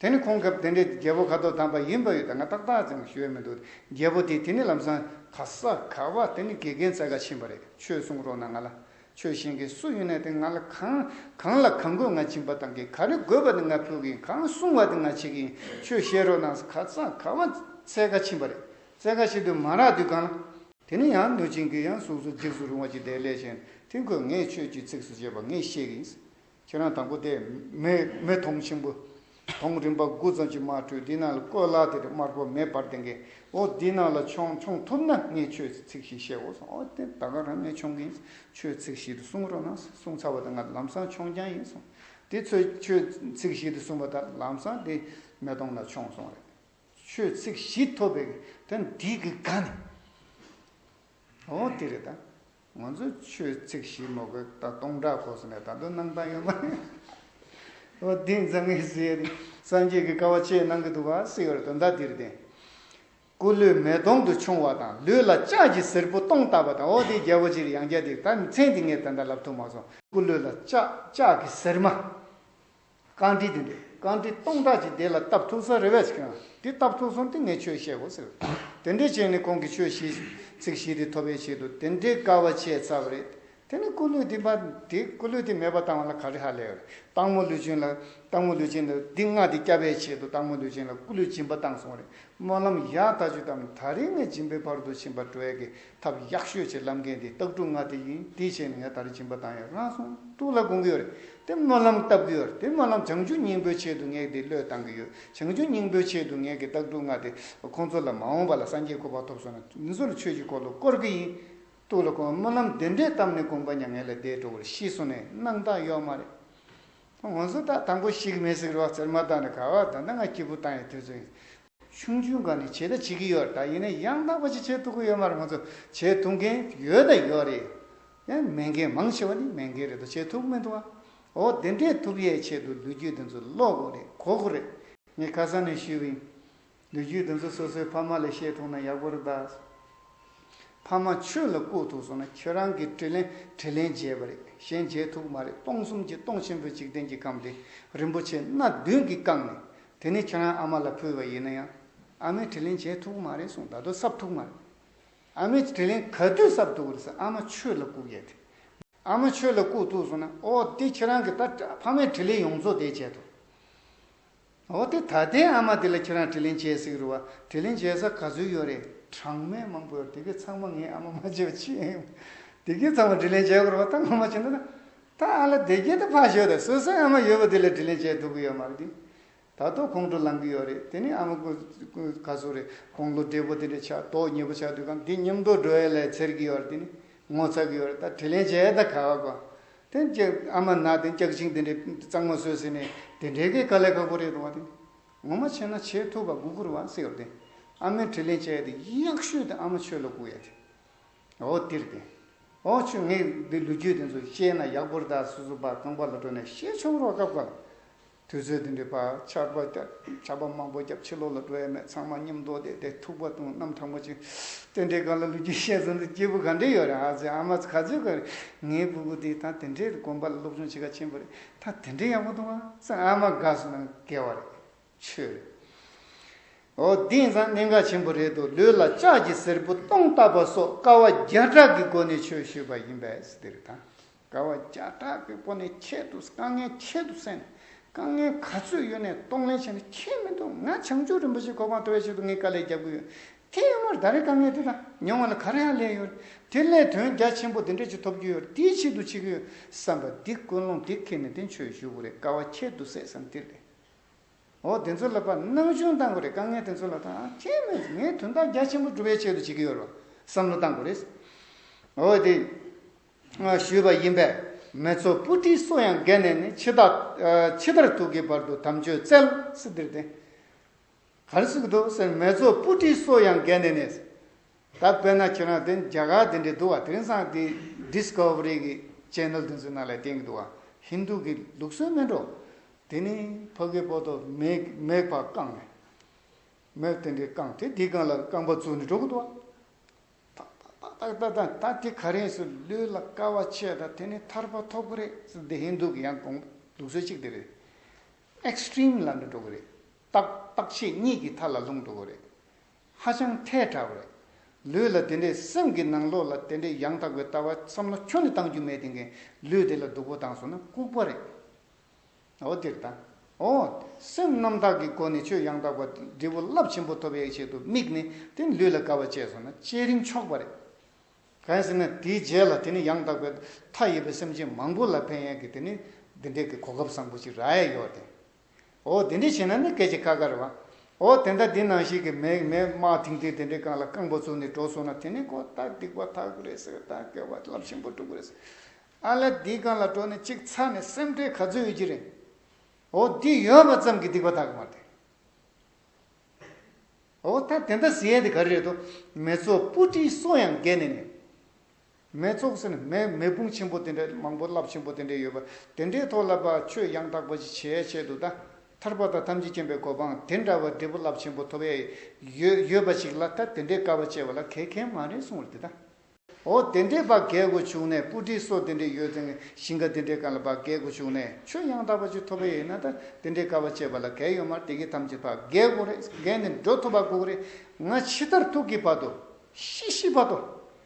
Speaker 1: དེ་ནས་ཁོང་གབ་དེ་འདྲའི་རྒྱལ་པོ་ཁ་དོག་དམ་པ་ཡིན་པ་ཡོད་དེ་ང་ཏག་ཏག་ཅིང་ཞོལ་མི་འདུག་རྒྱལ་པོ་དེས་དེ་ནས་ལམ་སང་ག་ས་ག་བ་དེ་ནས་དགེ་རྒན་ཚ་ག་ཕྱིན་པ་རེད་ཆོས་གསུང་རོགས་གནང་ང་ལ་ཆོས་གཞན་གྱི་སུ་ཡོད་ན་དེ་ང་ལ་གང། གང་ལ་གང་དགོས་ང་བྱིན་པ་དང་གི་ག་རེ་དགོས་པ་དེ་ང་ཕུལ་གིན་གང་གསུང་བ་དེ་ང་བྱེད་གིན་ཆོས་བཤད་རོགས་གནང་ཟེར་ག་ཙང་ག་བ་རྩེད་ཁ་ཕྱིན་པ་རེད་རྩེད་ཁ་ཕྱིན་དུས་མ་རག་དུས་གང་ལ། དེ་ནི་ཡང་གནོད་སྦྱིན་གྱི་ཡང་གཟུགས་སུ་འཇིགས་སུ་རུང་བ་ཅིག་དེ་ལས་གཞན་དེ་ཁོས་ངས་ཆོས་ཀྱི་ཚིགས་སུ་བཅད་པ་ངས་བཤད་གིན། ཁྱེད་རང་དང་པོ་དེ། མི་མཐོང་ཆེན་པོ། མཐོང་རིམ་པ་དགུ་ཙམ་གྱི་དམར་ཁྲོད་འདི་ནང་ལ་བཀོད་ལགས་དེར་དམར་པོ་མེ་འབར་ལྡེང་གི་འོ་འདི་ནང་ལ་མཆོང་མཆོང་ཐུབ་ན་ངས་ཁྱོད་ཚིག་བཞི་བཤད་འོ་སོང་འོ་དེ་ད་ག་རང་ངས་མཆོང་གི་ཡིན་ཁྱོད་ཚིག་བཞི་དེ་གསུང་རོགས་གནང་གསུང་ཚར་བ་དང་ང་ལམ་སང་མཆོང་རྐྱང་ཡིན་སོང་དེ་ཚོས་ཁྱོད་ཚིག་བཞི་དེ་གསུང་བ་དང་ལམ་སང་དེ་མེ་གཏོང་ན་མཆོང་སོང་རེད་ཁྱོད་ཚིག་བཞི་ཐོབ་པའི་དེ་འདི་གི་ག་ནས་འོ་དེ་རེད་ད། ང་ཚོ་ཆོས་ཚིག་ཞིག་མ་གོ་ད་སྟོང་བསྒྲགས་གོ་ཟེར་ནས་ད་དུང་གནང་སྟངས་ཡོད་མ་རེད། འོ་དེ་འཛམ་གླིང་ཟེར་ཡ་རེད། སངས་རྒྱས་ཀྱི་བཀའ་བ་ཅི་གནང་གི་འདུག་བ་སི་ཡོར་དོན་དག་འདིར་བདེན། སྐུ་ལུས་མེ་དོང་དུ་ཕྱུང་བ་དང་ལུས་ལ་ལྕགས་ཀྱི་གཟེར་བུ་སྟོང་བཏགས་པ་དང་འོ་དེ་རྒྱལ་པོ་ཅིར་ཡང་རྒྱ་འདིར་ད་མཚན་འདི་ངས་ད་ལྟ་ལབ་ཐུབ་མ་སོང། སྐུ་ལུས་ལ་ལྕགས་ཀྱི་གཟེར་མ། རྐང་དྲིལ་དེ་འདི་རྐང་དྲིལ་སྟོང་ཕྲག་གཅིག་དེ་ལ་སྟབས་ཐུག་ས་རེ་བས་ཀྱང་འདི་སྟབས་ཐུག་སོང་སྟེ་ངས་ཆོས་བཤད་གོ་ཟེར། དེ་འདྲའི་ཆོས་ནི་ཁོང་གིས་ཆོས་བཤད་ཚིག་བཞི་དེ་ཐོབ་པའི་ཆེད་དུ་དེ་འདྲའི་དཀའ་བ་སྤྱད་ཚར་བ་རེད། དེ་ནི་སྐུ་ལུས་འདི་མ་འདི་སྐུ་ལུས་འདི་མེད་པར་བཏང་བ་ལ་ག་རེ་ཧ་ལས་ཨེ། སྟག་མོ་ལུས་ཅན་ལ་སྟག་མོ་ལུས་ཅན་ལ་འདི་མངགས་ཏེ་བསྐྱབ་པའི་ཆེད་དུ་སྟག་མོ་ལུས་ཅན་ལ་སྐུ་ལུས་སྦྱིན་པ་བཏང་སོང་བ་རེད་སྨོན་ལམ་ཡག་ད་ཆུ་དམ་ད་རིང་ནས་སྦྱིན་པའི་བར་དུ་ཕྱིན་པར་སྤྲོ་ཡག་གི་ཐབས་ཡག་ཤོས་ཆེ་ལབ་མཁན་དེ་སྟག་གྲུ་ང་དེ་ཡིན་དེའི་ཆེད་ནས་ངས་ད་རེ་སྦྱིན་པ་བཏང་ཡོད་རང་གསུང་ཐུགས་ལ་དགོངས་ཀྱི་ཡོད་རེད་དེ་སྨོན་ལམ་བཏབ་ཀྱི་ཡོད་རེད་དེ་སྨོན་ལམ་བྱང་ཆུབ་སྙིང་པོའི་ཆེད་དུ་ངས་དེ་བློས་བཏང་གི་ཡོད་བྱང་ཆུབ་སྙིང་པོའི་ཆེད་དུ་ངས་ཀྱི་སྟག་གྲུ་ང་དེ་ཁོང་ཚོ་ལ་མ་འོངས་པ་ལ་སངས་རྒྱས་སྐུ་པར་ཐོབ་སོང་ན་མི་ཚོ་ལ་ཆོས་ཀྱི་འཁོར་ལོ་བསྐོར་གྱི་ཡིན་ཐུགས་ལ་དགོངས་སྨོན་ལམ་དེ་འདྲའི་བཏབ་ནས་དགོངས་པ་མྱ་ངན་ལས་འདས་འགྲོ་བར་ཤི་སོང་ནས་རྣམ་རྟགས་གཡོག་མ་རེད་ང་ཚོ་ད་དང་པོ་ཞིག་མེ་སྲེག་རོགས་ཟེར་མ་ཐག་ནས་ག་ག་ད་ལྟ་ང་སྐྱིད་པོ་བཏང་ཡོད་དུས་ཚོད་ཡིན། ཆུང་ཆུང་ག་ནས་བྱེད་དང་བྱེད་ཀྱི་ཡོད་རེད་ད་ཡིན་ན་ཡང་དག་པ་ཞིག་བྱེད་ཐུབ་ཀྱི་ཡོད་མ་རེད་ང་ཚོ་བྱེད་ཐུབ་མཁན་ཡོད་དང་ཡོད་རེད་ཡ། མེད་མཁན་མང་ཆེ་བ་ནི་མེད་མཁན་རེད་དོ་བྱེད་ཐུབ་ཀྱི་མི་འདུག་ཨ། འོ་དེ་འདྲས་ཐུབ་ཡས་ཆེད་དུ་ལུས་རྒྱུད་དེ་ཚོ་ཀློག་དགོས་རེད་གོ་དགོས་རེད། ངས་ཁ་སང་ནས་ཞུས་པ་ཡིན། ལུས་རྒྱུད་དེ་ཚོ་སོ་སོའི་ཕ་མ་ལས་ཤེས་ཐུབ་ན་ཡག་པོ་རེད་ད། ཕ་མ་ཆོས་ལ་བཀུག་ཐུབ་སོང་ན་ཁྱོད་རང་གིས་དྲིས་ལན་དྲིས་ལན་བརྗེད་པ་རེད་གཞན་བརྗེད་ཐུབ་ཀྱི་མ་རེད་སྟོང་གསུམ་གྱི་སྟོང་ཆེན་པོའི་འཇིག་རྟེན་གྱི་ཁམས་འདི་རིན་པོ་ཆེ་སྣ་བདུན་གྱིས་བཀང་ནས་དེ་ནས་ཁྱེད་རང་ཨ་མ་ལ་ཕུལ་བ་ཡིན་ན་ཡང་ཨ་མས་དྲིས་ལན་བྱས་ཐུག་མ་རེད་གསུངས་ད་དུང་གསབ་ཐུག་མ་རེད། ཨ་མས་དྲིས་ལན་ག་དུས་གསབ་ཐུག་རེད་ཟེར་ཨ་མ་ཆོས་ལ་བཀུག་ཡས་དེ། ཨ་མ་ཆོས་ལ་བཀུག་ཐུག་གསུངས་ན་ཨོ་དེ་ཁྱེད་རང་གི་ད་ཕ་མས་དྲིས་ལན་ཡོངས་རྫོགས་དེ་བྱས་ཐུག། ཨོ་དེ་ད་ལྟའི་ཨ་མ་དེ་ལ་ཁྱེད་རང་དྲིས་ལན་བྱས་ཟིག་རུ་བ་དྲིས་ལན་བྱས་ས་ག་ཚོད་ཡོད་རེད། གྲངས་མེད་མང་པོ་ཡོད་དེ་གའི་ཚང་མ་ངའི་ཨ་མ་མ་བྱས་པ་ཅི་ཡིན། དེ་གའི་ཚང་མ་དྲིས་ལན་བྱས་དགོས་རུ་བ་ད་ང་མ་བྱས་ན་ད་ད་ཨ་ལ་བདེ་སྐྱིད་དུ་ཕར་ཞོག་དང་སོ་སོའི་ཨ་མ་ཡོད་པ་དེ་ལ་དྲིན་ལན་བྱས་འདུག་གི་ཡོད་མ་རེད་དེ། ད་ལྟོགས་ཁོང་ཁྲོ་ལང་གི་ཡོད་རེད་དེ་ནི་ཨ་མ་ག་ཟུག་རེད་དགོང་ལོ་བགྲེས་པོ་དེ་འདྲས་ཆགས་ལྟོགས་ཉེས་པོ་ཆགས་དུས་གམ་དེ་སྙམ་དོགས་འགྲོ་ཡས་ལས་འཚེར་གི་ཡོད་རེད་དེ་ནི་ངོ་ཚ་གི་ཡོད་རེད་ད་དྲིན་ལན་བྱས་ཡས་ད་ག་བ་དགོས་དེ་ཨ་མ་ནག་དེ་སྐྱག་ཅིང་དེ་འདྲས་གཙང་མ་བཟོས་ཟེར་ནས་དེ་འདྲས་ཀའི་དཀའ་ལས་ཁག་པོ་རེད་འདུག་བ་དེ་ངོ་མ་བྱས་ན་བྱས་ཐུབ་པ་དགུ་ཁུར་བ་སེ་ཡོད་དེ་ཨ་མས་དྲིན་ལན་བྱས་ཡས་དེ་ཡག་ཤོས་དེ་ཨ་མ་ཆོས་ལ་གུག་ཡས་དེ་འོ་དིར་ཏེ། འོ་ཆུ་ངས་འདི་ལུས་རྒྱུད་དེ་ཚོ་ཤེས་ན་ཡག་པོ་རེ་ད་སོ་སོ་བར་ཁང་པ་ལ་འགྲོ་ནས་ཤེས་ཆོག་རོགས་སྐབས་འགར་དུས་ཚོད་དེ་འདྲའི་བར་ཆར་པ་ཆར་པ་མང་པོ་རྒྱབ་ཕྱི་ལོག་ལ་འགྲོ་ཡ་མེད་ཚང་མ་མཉམ་འདོགས་བསྡད་དེ་ཐུག་པ་དང་གནམ་ཐང་པོ་ཅིག་དེ་འདྲའི་སྒང་ལ་ལུས་རྒྱུད་ཤེས་ཙམ་དུ་སྐྱེས་བུ་ག་འདྲས་ཡོད་རེད་ཨ་ཙི་ཨ་མ་ག་ཚོད་ཀ་རེད་ངའི་སྤུ་གུ་དེ་ད་དེ་འདྲའི་དགོན་པ་ལ་སློབ་སྦྱོང་བྱེད་ག་ཆེན་པོ་རེད་ད་དེ་འདྲའི་ཡག་པོ་འདུག་ཨ་ཙི་ཨ་མ་དགའ་བསུ་གནང་དགེ་བ་རེད། ཆོས། ཨོ་དེང་སང་གནད་འགག་ཆེན་པོ་རེད་འདུག་ལུས་ལ་ལྕགས་ཀྱི་སེར་བུ་སྟོང་བཏགས་པ་སོགས་དཀའ་བ་བརྒྱ་ཕྲག་གི་སྒོ་ནས་ཆོས་ཞུས་པ་ཡིན་པས་འདིར་དང་དཀའ་བ་བརྒྱ་ཕྲག་གི་སྒོ་ནས་ཁྱེད་དུ་དཀའ་ངལ་ཁྱེད་དུ་བསལ་ནས་དཀའ་ངལ་ག་ཚོད་ཡོད་ནས་གཏོང་ལེན་བྱས་ནས་ཁྱེད་མི་འདུག་ང་བྱང་ཆུབ་རིན་པོ་ཆེ་གོ་འཕང་ཐོབ་པའི་ཆེད་དུ་ངས་དཀའ་ལས་རྒྱབ་གི་ཡོད་དེ་ཡོད་མར་ད་རེས་དཀའ་ངལ་དེ་དག་མྱོང་བ་ལ་ག་རེ་ཡང་ལས་ཡོད་དེ་སླད་དོན་རྒྱ་ཆེན་པོ་འདི་འདྲ་ཅིག་ཐོབ་རྒྱུ་ཡོད་དེའི་ཆེད་དུ་བྱེད་ཀྱི་ཡོད་བསམ་པ་འདི་ཀུན་སློང་འདི་ཁེལ་ནས་འདི་ཆོས་ཞུ་དགོས་རེད་དཀའ་བ་ཁྱེད་དུ་བསལ་བསམ་འདི་རེད། འོ་དེ་ཚོ་ལ་བར་སྣང་ཅུང་གཏང་དགོས་རེད་དཀའ་ངལ་དེ་ཚོ་ལ་ཐང་ཆད་མེད་ཀྱི་ངས་དོན་དག་རྒྱ་ཆེན་པོ་སྒྲུབ་པའི་ཆེད་དུ་བྱེད་ཀྱི་ཡོད་རེད་བསམ་བློ་གཏང་དགོས་རེད་འོ་དེ་ཞུས་པ་ཡིན་པས་མེད་ཚོ་སྤུ་གྲིའི་སོ་ཡང་བརྒལ་ནས་ནི་ཕྱི་ལྟར་ཕྱི་ལྟར་ཐུག་གི་བར་དུ་དམ་ཆོས་བཙལ་སི་དེར་བསྟེན། གར་ཟིག་འདུག་ཟེར་མེ་ཚོ་སྤུ་གྲིའི་སོ་ཡང་བརྒལ་ནས་ནས། ད་དཔེར་ན་ཁྱེད་རང་དེ་རྒྱ་གར་དེ་འདྲའི་འདུག་བ་དེང་སང་དེ Discovery གི Channel དེ་ཚོའི་ནང་ལ་བསྟན་གི་འདུག་བ Hindu གི་ལུགས་སྲོལ་མིན་འགྲོ། དེ་ནི་ཕ་གི་པོ་ཏོ་མེག་པ་བཀང་ནས། མེག་དེ་འདྲའི་བཀང་དེ་དེའི་སྒང་ལ་རྐང་པ་བཙུགས་ནས་འགྲོ་གི་འདུག་བ། ཐག་ཐག་ཐག་ཐག་ཐག་ད་དེ་ག་རེ་སུ་ལུས་ལ་དཀའ་བ་ཆེ་ད་དེ་ནི་ཐར་པ་ཐོབ་གི་རེད་ཟེར་འདི Hindu གི་ཡང་ལུགས་སྲོལ་གཅིག་དེ་རེད། Extreme ལ་འགྲོ་གི་རེད། རྟགས་རྟགས་ཆད་གཉིས་ཀྱི་མཐའ་ལ་ལྷུང་འགྲོ་བོ་རེད། ཧ་ཅང་ཐལ་དྲགས་པོ་རེད། ལུས་ལ་དེ་འདྲའི་སེམས་ཀྱི་ནང་ལོགས་ལ་དེ་འདྲའི་ཡང་དག་པའི་ལྟ་བ་བསམ་བློ་ཁྱོན་ནས་གཏང་རྒྱུ་མེད་དེ་གིན་ལུས་དེ་ལ་སྡུག་པོ་བཏང་སོང་ན་ལྐུགས་པ་རེད། འོ་འདིར་ད་འོ། སེམས་རྣམ་དག་གི་སྒོ་ནས་ཆོས་ཡང་དག་པ་འབྲས་བུ་རླབས་ཆེན་པོ་ཐོབ་པའི་ཆེད་དུ་དམིགས་ནས་དེ་ལུས་ལ་དགའ་བ་སྤྱད་སོང་ན་སྤྱད་རིན་ཆོག་པ་རེད། གལ་སྲིད་ན་དེའི་རྗེས་ལ་དེ་ནི་ཡང་དག་པའི་མཐའ་ཡོད་པའི་སེམས་ཅན་མང་པོ་ལ་ཕན་ཡོད་གི་དེ་ནི་འདི་འདྲའི་གི་གོ་སྐབས་བཟང་པོ་ཅིག་ར་ཡས་ཡོད་དེ། འོ་དེ་འདྲས་བྱས་ན་ནི་སྐད་ཅིག་ཁ་ཁར་བ། འོ་དེ་ལྟ་དེ་ནང་བཞིན་གྱི་མེ་མེ་དམག་ཐིང་ཐིང་དེ་འདྲས་རྐང་ལ་རྐང་པོ་བཙུགས་ནས་འགྲོ་སོང་ན་དེ་ནི་ཁོ་ཐག་སྡིག་པ་ཐག་པོ་རེད་ཟེར་ཐག་སྐལ་བ་རླབས་ཆེན་པོ་འགྲོ་གི་རེད། ཨ་ལ་འདིའི་རྐང་ལ་འགྲོ་ནས་གཅིག་ཚ་ནས་སེམས་ཁྲལ་ག་ཚོད་ཡོད་ཀྱི་རེད། འོ་འདི་ཡོད་པ་ཙམ་གྱིས་སྡིག་པ་ཐག་གི་མ་རེད། འོ་ད་དེ་འདྲ་ཟེར་ཡས་དེ་ག་རེ་རེད་དོ། མེ་ཚོགས་སྤུ་གྲིའི་སོ་ཡང་བརྒལ་ནས་ནི། མའི་ཚོགས་ཟེར་ནས་མའི་མེ་དཔུང་ཆེན་པོ་དེ་འདྲ་མང་པོ་རླབས་ཆེན་པོ་དེ་འདྲ་ཡོད་པ་དེ་འདྲའི་ཐོག་ལ་པའི་ཆོས་ཡང་དག་པ་ཅི་བྱེད་བྱེད་དུ་ད་ཐར་པ་དང་ཐམས་ཅད་མཁྱེན་པའི་གོ་འཕང་དེ་འདྲ་བ་འབྲས་བུ་རླབས་ཆེན་པོ་ཐོབ་ཡས་ཡོད་ཡོད་པ་ཞིག་ལ་ད་དེ་འདྲའི་དཀའ་བ་སྤྱད་པ་ལ་གལ་ཁན་མ་རེད་གསུང་བར་དེ་ད། འོ་དེ་འདྲའི་བ་གལ་གོ་བྱུང་ནས་སྤུ་གྲི་སོ་དེ་འདྲ་ཡོད་ཚེ་ཞིང་ཁ་དེ་འདྲའི་ག་ལ་བ་གལ་གོ་བྱུང་ནས་ཆོས་ཡང་དག་པ་ཅིག་ཐོབ་ཡས་ན་ད་དེ་འདྲའི་དཀའ་བ་སྤྱད་པ་ལ་གལ་ཡོད་མར་དེ་གི་ཐམས་ཅད་བ་གལ་གོ་རེད་འགན་ནི་འགྲོ་ཐུབ་བ་གོ་གི་རེད་ང་ཕྱི་ལྟར་ཐུག་གི་བ་དོ་ཤི་ཤི་བ་དོ་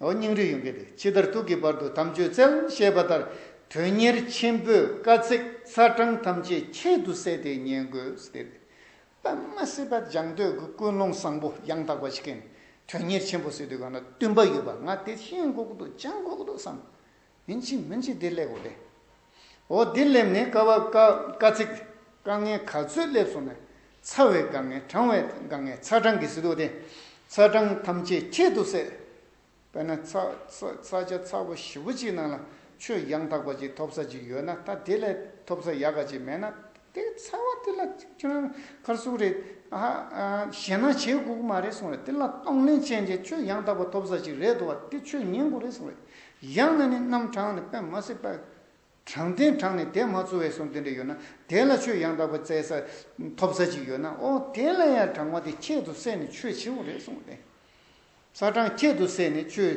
Speaker 1: ཨོ་སྙིང་རུས་ཡོན་གྱི་དེ་ཕྱི་དར་ཐུག་གི་བར་དུ་དམ་ཆོས་རྩལ་ཞེས་པ་ལྟར་དོན་གཉེར་ཆེན་པོས་དཀའ་ཚེགས་ཚ་གྲང་ཐམས་ཅད་ཁྱད་དུ་བསད་དེ་ཉན་དགོས་ཟེར་ཏེ། པདྨ་སེ་བ་ལྗང་སྟོད་ཀྱི་ཀུན་སློང་བཟང་པོ་ཡང་དག་པ་ཞིག་གིས་དོན་གཉེར་ཆེན་པོ་ཟེར་དུས་གང་ན་བསྟུན་པ་ཡོད་པ་ང་དེ་ཤེས་འགོག་ཏུ་བཅངས་འགོག་ཏུ་བསམ། སྨིན་བྱེད་སྨིན་བྱེད་བདེ་ལེགས་འོད། འོ་བདེ་སླེབས་ནས་དཀའ་བ་དཀའ། ཚིག་དཀའ་ངལ་ག་ཚོད་སླེབས་སོང་ནས། ཚ་བའི་དཀའ་ངལ་གྲང་བའི་དཀའ་ངལ་ཚ་གྲང་གི་ཟི་དུག་དེ། ཚ་གྲང་ཐམས་ཅད་ཁྱད་དུ་བསད། དཔེར་ན་ཚ་ཚ་བྱ་ཚ་བོ་བཞི་བོ་གཅིག་ནང་ལ་ཆུ་ཡང་དག་པ་ཅིག་ཐོབ་ས་ཅིག་ཡོད་ན་ད་དེ་ལས་ཐོབ་ས་ཡག་ག་ཅིག་མེད་ན་དེ་ཚ་བ་དེ་ལ་ཁྱོད་རང་ཁར་སུག་རེད་ཨ་ཧ། ཞེ་སྣང་བྱེད་དགོས་ཀྱི་མ་རེད་གསུངས་རེད་དེ་ལ་གཏོང་ལེན་ཅན་གྱི་ཆུ་ཡང་དག་པ་ཐོབ་ས་ཅིག་རེད་འདུག་བ་དེ་ཆུ་ཉན་དགོས་རེད་གསུངས་རེད། ཡང་ན་ནི་རྣམ་གྲངས་ནི་པདྨ་སེར་པ། གྲངས་ལྡན་གྲངས་ནི་དེ་མ་ཚོལ་བས་སོ་འདི་འདྲ་ཡོད་ན་དེ་ལ་ཆོས་ཡང་དག་པར་བཙལ་ས་ཐོབ་ས་ཅིག་ཡོད་ན་ཨོ་དེ་ལ་ཡང་གྲངས་མ་དེ་ཁྱད་དུ་བསད་ནས་ཆོས་བྱེད་པོ་རེད་གསུངས་ཏེ། ས་གྲངས་ཁྱད་དུ་བསད་ནས་ཆོས་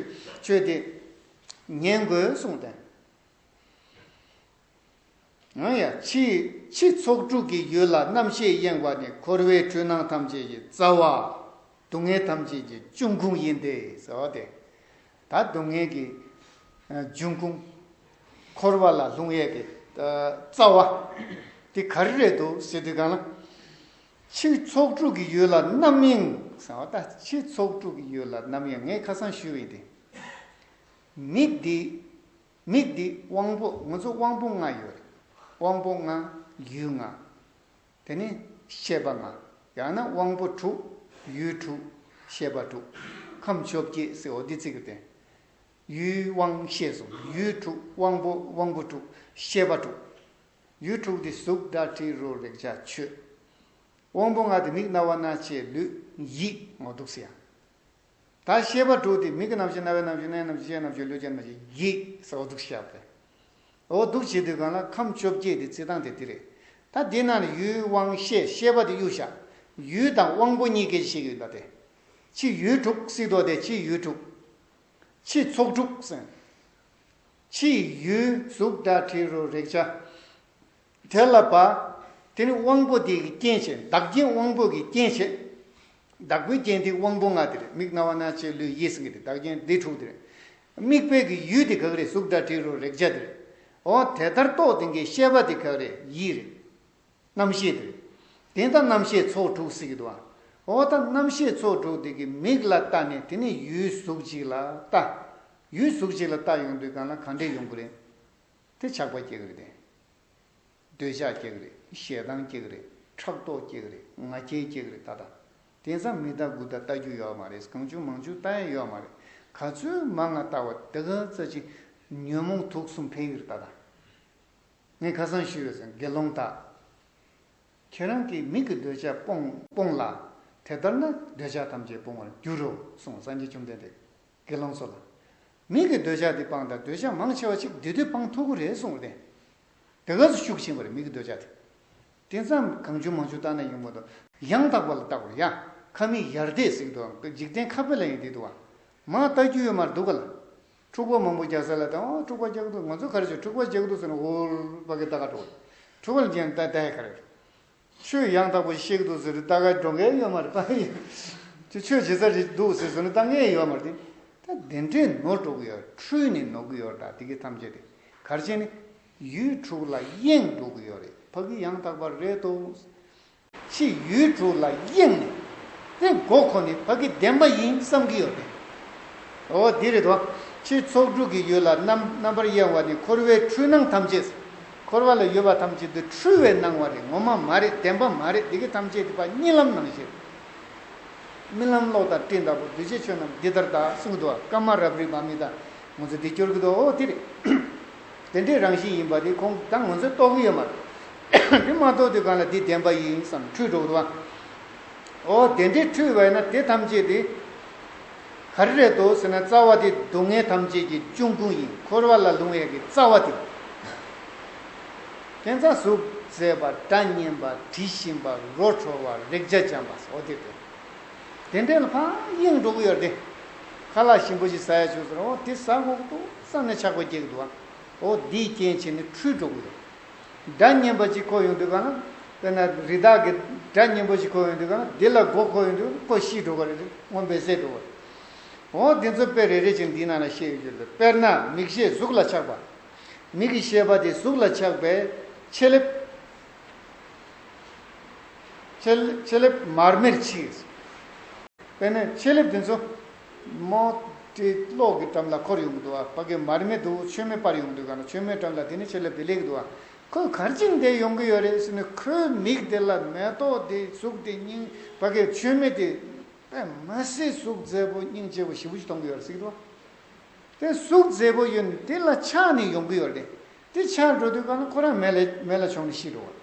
Speaker 1: བྱེད་དེ། ཉན་དགོས་གསུངས་ཏེ། ཡང་ཡང་འཆི། འཆི་ཚོགས་དྲུག་གི་ཡུལ་ལ་རྣམ་ཤེས་གཡེངས་པ་ནི་འཁོར་བའི་འཁྲུལ་སྣང་ཐམས་ཅད་ཀྱི་རྩ་བ། སྡུག་བསྔལ་ཐམས་ཅད་ཀྱི་འབྱུང་ཁུངས་ཡིན་ཏེ་ཟེར་བ་དེ། ད་སྡུག་བསྔལ་གྱི་འབྱུང་ཁུངས། འཁོར་བ་ལ་ལྷུང་ཡས་ཀྱི་རྩ་བ། དེ་ག་རེ་རེད་འདུག་ཟེར་དུས་གང་ལ། འཆི་ཚོགས་དྲུག་གི་ཡུལ་ལ་རྣམ་གཡེང་ཟེར་བ་ད་འཆི་ཚོགས་དྲུག་གི་ཡུལ་ལ་རྣམ་གཡེང་ངས་ཁ་སང་ཞུས་བས་དེ། མི་འདི། མིག་འདི་དབང་པོ་ང་ཚོ་དབང་པོ་ལྔ་ཡོད་རེད། དབང་པོ་ལྔ། ཡུལ་ལྔ། དེ་ནི། ཤེས་པ་ལྔ། ཡང་ན་དབང་པོ་དྲུག། ཡུལ་དྲུག། ཤེས་པ་དྲུག། ཁམས་བཅོ་བརྒྱད་སི་འོ་དི་ཙི་ཀི་ཏན། ཡུལ་དབང་ཤེས་གསུམ་ཡུལ་དྲུག་དབང་པོ་དབང་པོ་དྲུག་ཤེས་པ་དྲུག། ཡུལ་དྲུག་དེ་གཟུགས་སྒྲ་དྲི་རོ་རེག་བྱ་ཆོས། དབང་པོ་ལྔ་དེ་མིག་རྣ་བ་སྣ་ལྕེ་ལུས་ཡིད་ངོ་སྡུག་བསལ། ད་ཤེས་པ་དྲུག་སྟེ་མིག་གི་རྣམ་ཤེས་རྣ་བའི་རྣམ་ཤེས་སྣའི་རྣམ་ཤེས་ལྕེའི་རྣམ་ཤེས་ལུས་ཀྱི་རྣམ་ཤེས་ཡིད་ས་འོ་དུག་ཤ་བེ། འོ་དུག་བྱེད་དུས་གང་ལ་ཁམས་བཅོ་བརྒྱད་དེ་རྩི་སྟངས་དེ་འདི་རེད། ད་འདི་རྣམས་ནི་ཡུལ་དབང་ཤེས་ཤེས་པ་དེ་གཡུ་ཞག་ཡུལ་དང་དབང་པོ་གཉིས་སྐད་ཅིག་ཤེས་ཡུལ་ལ་དེ། ཕྱི་ཡུལ་དྲུག་སྲིད་དོ་དེ་ཕྱི་ཡུལ་དྲུག། ཕྱི་ཚོགས་དྲུག་སེམས། ཕྱི་ཡུལ་གཟུགས་སྒྲ་དྲི་རོ་རེག་བྱ། དེ་ལ་བ། དེ་ནི་དབང་པོ་དེའི་རྐྱེན་བྱས་བདག་རྐྱེན་དབང་པོ་གི་རྐྱེན་བྱས། བདག་པོའི་རྐྱེན་དེའི་དབང་པོ་ལྔ་དེ་རེད་མིག་རྣ་བ་སྣ་ལྕེ་ལུས་ཡིད་སེམས་ཀྱི་དེ་བདག་རྐྱེན་དེ་དྲུག་དེ་རེད། མིག་དཔེ་གི་ཡུལ་དེ་གག་རེད་གཟུགས་སྒྲ་དྲི་རོ་རེག་བྱ་དེ་རེད། འོ་དེ་ལྟར་རྟོགས་དེ་གའི་ཤེས་པ་དེ་གག་རེད་ཡིད་རེད། རྣམ་ཤེས་དེ་རེད། དེ་ད་རྣམ་ཤེས་ཚོགས་དྲུག་ཟེར་གི་འདུག་ཨ། འོ་ད་རྣམ་ཤེས་ཚོགས་དྲུག་དེ་གི་མིག་ལ་ལྟ་ནས་དེ་ནི་ཡུལ་གཟུགས་གཅིག་ལ་ལྟ། ཡུལ་གཟུགས་གཅིག་ལ་ལྟ་ཡོང་དུས་གང་ལ་གང་འདྲས་ཡོང་གི་རེད། དེ་ཆགས་པ་སྐྱེ་གི་རེད། འདོད་ཆགས་སྐྱེ་གི་རེད་ཞེ་སྡང་སྐྱེ་གི་རེད་ཕྲག་དོག་སྐྱེ་གི་རེད་ང་རྒྱལ་སྐྱེ་གི་རེད་ད་ལྟ་དེང་སང་མི་ལྟ་དགུ་ལྟ་ལྟ་རྒྱུ་ཡོད་མ་རེད་གང་བྱུང་མང་བྱུང་ལྟ་ཡས་ཡོད་མ་རེད་ག་ཚོད་མ་ང་ལྟ་བ་དེ་ག་ཚོད་ཅིག་ཉོན་མོངས་དུག་གསུམ་འཕེལ་གི་རེད་ད་ལྟ་ངས་ཁ་སང་ཞུས་ཡོད་ཟེར་དགེ་སློང་དག་ཁྱེད་རང་གིས་མིག་གི་འདོད་ཆགས་སྤོངས་སྤོངས་ལ་དེ་ལྟར་ན་འདོད་ཆགས་ཐམས་ཅད་སྤོང་བར་འགྱུར་རོ་གསུངས་སངས་རྒྱས་བཅོམ་ལྡན་འདས། དགེ་སློང་ཚོ་ལ། མིག་གི་འདོད་ཆགས་འདི་སྤངས་དང་འདོད་ཆགས་མང་ཆེ་བ་ཅིག་འདི་དུས་སྤངས་ཐུག་གོ་རེ་གསུངས་བ་བསྟན། དེ་སྐབས་སུ་ཤུགས་ཆེན་པོ་རེ་མིག་གི་འདོད་ཆགས་དེ། དེ་མཚམས་གང་བྱུང་མང་བྱུང་བརྟགས་ན་ཡོང་པོ་འདུག། ཡང་དག་པ་ལ་བརྟག་གོ་ཡ། ཁ་མིག་ཡར་བལྟས་ཟིག་འདུག་ཨང། འཇིག་རྟེན་ཁ་བལྟས་ལ་ཡང་འདི་འདུག་ཨང། མ་བལྟ་རྒྱུ་ཡོད་མར་འདུག་ག་ལ། འཁྲུག་པ་མང་པོ་རྒྱག་ས་ལ་བལྟ། འོ་འཁྲུག་པ་རྒྱག་འདུག་ང་ཚོ་ག་རེ་བྱེད་འཁྲུག་པ་རྒྱག་འདུག་ཟེར་ན་འུར་འུར་བ་གི་བལྟ་ག་འགྲོ། འཁྲུག་པ་ལ་འཇན་ལྟ་ཡི་ག་རེ། ཆོས་གཡང་དག་པོ་གཤེགས་འདུག་ཟེར་ཏེ་ལྟ་གའི་སྒྲོ་འགེལ་གཡོན་མར་བཏང་ཡོད། ཁྱོད་ཆོས་བྱེད་ས་རེད་འདུག་ཟེར་ཟེར་ནས་ལྟ་ངའི་ཡོད་མར་དེད། ད་དེ་འདྲས་ནོར་འགྲོ་གི་ཡོད་འཁྲུལ་ནས་ནོར་གི་ཡོད་དྲག་དེ་གི་ཐམས་ཅད་དེ་གར་བྱས་ནས། ཡུལ་དྲུག་ལ་གཡེངས་འགྲོ་གི་ཡོད་རེད་ཕ་གི་གཡང་དག་པ་རེད་དོ། ཕྱིས་ཡུལ་དྲུག་ལ་གཡེངས་ནས་དེ་མགོ་ཁོ་ནས་ཕ་གི་བདེན་པ་ཡིན་བསམ་གི་ཡོད་རེད། འོ་འདི་རེད་དོ། ཕྱིས་ཚོགས་དྲུག་གི་ཡུལ་ལ་རྣམ་པར་གཡེང་བ་ནི་འཁོར་བའི་འཁྲུལ་སྣང་ཐམས་ཅད། འཁོར་བ་ལ་ཡོད་པ་ཐམས་ཅད་དུ་འཁྲུལ་བའི་སྣང་བ་རེད་ངོ་མ་མ་རེད་བདེན་པ་མ་རེད་འདི་གི་ཐམས་ཅད་དེ་པ་གཉིད་ལམ་ནང་བཞིན། རྨི་ལམ་གློག་ལྟར་སྤྲིན་ལྟ་བུ་གདུལ་བྱའི་ཆོས་རྣམས་འདི་ལྟར་དག་གསུང་གི་འདུག་ཨ་ཀ་མ་རབ་རིག་པ་མི་དང་ངོ་ཚོ་འདི་སྐྱོར་གི་འདུག་ཨོ་དེ་རེད། དེ་འདྲའི་རང་བཞིན་ཡིན་པ་དེ་ཁོང་དང་ང་ཚོས་རྟོགས་གི་ཡོད་མ་རེད། དེ་མ་རྟོགས་དུས་གང་ལ་འདི་བདེན་པ་ཡིན་བསམ་འཁྲུལ་འགྲོ་གི་འདུག་ཨ། ཨོ་དེ་འདྲའི་འཁྲུལ་བས་ན་དེ་ཐམས་ཅད་དེ། ག་རེ་རེད་དོ་ཟེར་ན་རྩ་བ་དེ་སྡུག་བསྔལ་ཐམས་ཅད་ཀྱི་གཅུང་ཀུན་ཡིན་འཁོར་བ་ལ་ལུང་བའི་གི་རྩ་བ་དེ། རྐྱེན་རྩ་གཟུགས་མཛེས་པ་སྒྲ་སྙན་པ་དྲི་ཞིམ་པ་རོ་འཕྲོ་བ་རེག་བྱ་སྦྱངས་པ་སོགས་དེ་སྟེ། དེ་འདྲའི་ལྷ་དབྱིངས་འགྲོ་གི་ཡོད་དེ། ཁ་ལག་ཞིམ་པོ་ཞིག་ཟ་ཡ་བྱུང་ཟེར་ན་འོ་དེ་ཟ་འགོག་ཏུ་བསམ་ནས་ཆགས་པ་སྐྱེ་གི་འདུག་ཨ། འོ་འདིའི་རྐྱེན་བྱས་ནས་འཁྲུལ་འགྲོ་གི་ཡོད། སྒྲ་སྙན་པ་ཅིག་གོ་ཡོང་དུས་གང་ན། དཔེར་ན་རི་དྭགས་ཀྱི་སྒྲ་སྙན་པོ་ཞིག་གོ་ཡོང་དུས་གང་ན་འདི་ལ་མགོ་འཁོར་ཡོང་དུས་ཀོ་ཤི་འགྲོ་ག་རེ་རེད་སྔོན་འབད་སད་འགྲོ་ག་རེད། འོང་འདི་ཚོ་དཔེ་རེ་རེ་ཅིག་འདིའི་ནང་ན་ཤེས་ཡོད་རྒྱུ་རེད་དཔེར་ན་མིག་ཤེས་གཟུགས་ལ་ཆགས་པ། མིག་གི་ཤེས་པ་དེ་གཟུགས་ལ་ཆགས་པས་ཕྱེ་ལེབ། ཕྱེ་ལེབ་མར་མེར་ཕྱིས། དཔེར་ན་ཕྱེ་ལེབ་དེ་ཚོ། མོ། དེ་གློག་གི་འགྲམ་ལ་འཁོར་ཡོང་གི་འདུག་ཨ་ཕ་གིས་མར་མེ་དུ་བོ་ཆོས་མེད་སྤར་ཡོང་འདུག་ག་ན་ཆོས་མེད་འགྲམ་ལ་དེ་ནི་ཆེད་ལས་བེ་ལེགས་འདུག་ཨ་ཁོས་གར་ཅིང་བསྡད་ཡོང་གི་ཡོད་རེད་ཟེར་ནས་ཁོའི་མིག་དེ་ལ་མེ་ཏོག་དེ་གཟུགས་དེ་སྙིང་ཕ་གིས་ཆོས་མེད་དེ་པད་མ་སེ་གཟུགས་མཛེས་པོ་སྙིང་རྗེ་བོ་ཞི་བོ་ཞིག་མཐོང་གི་ཡོད་རེད་ཟེར་གི་འདུག་ཨ་དེ་གཟུགས་མཛེས་པོ་ཡོད་ནི་དེ་ལ་ཆགས་ནས་ཡོང་གི་ཡོད་རེད་དེ་ཆགས་འགྲོ་དུས་ག་ན་ཁོ་རང་མེ་ལ་མཆོངས་ནས་ཤི་འགྲོ་བ་རེད།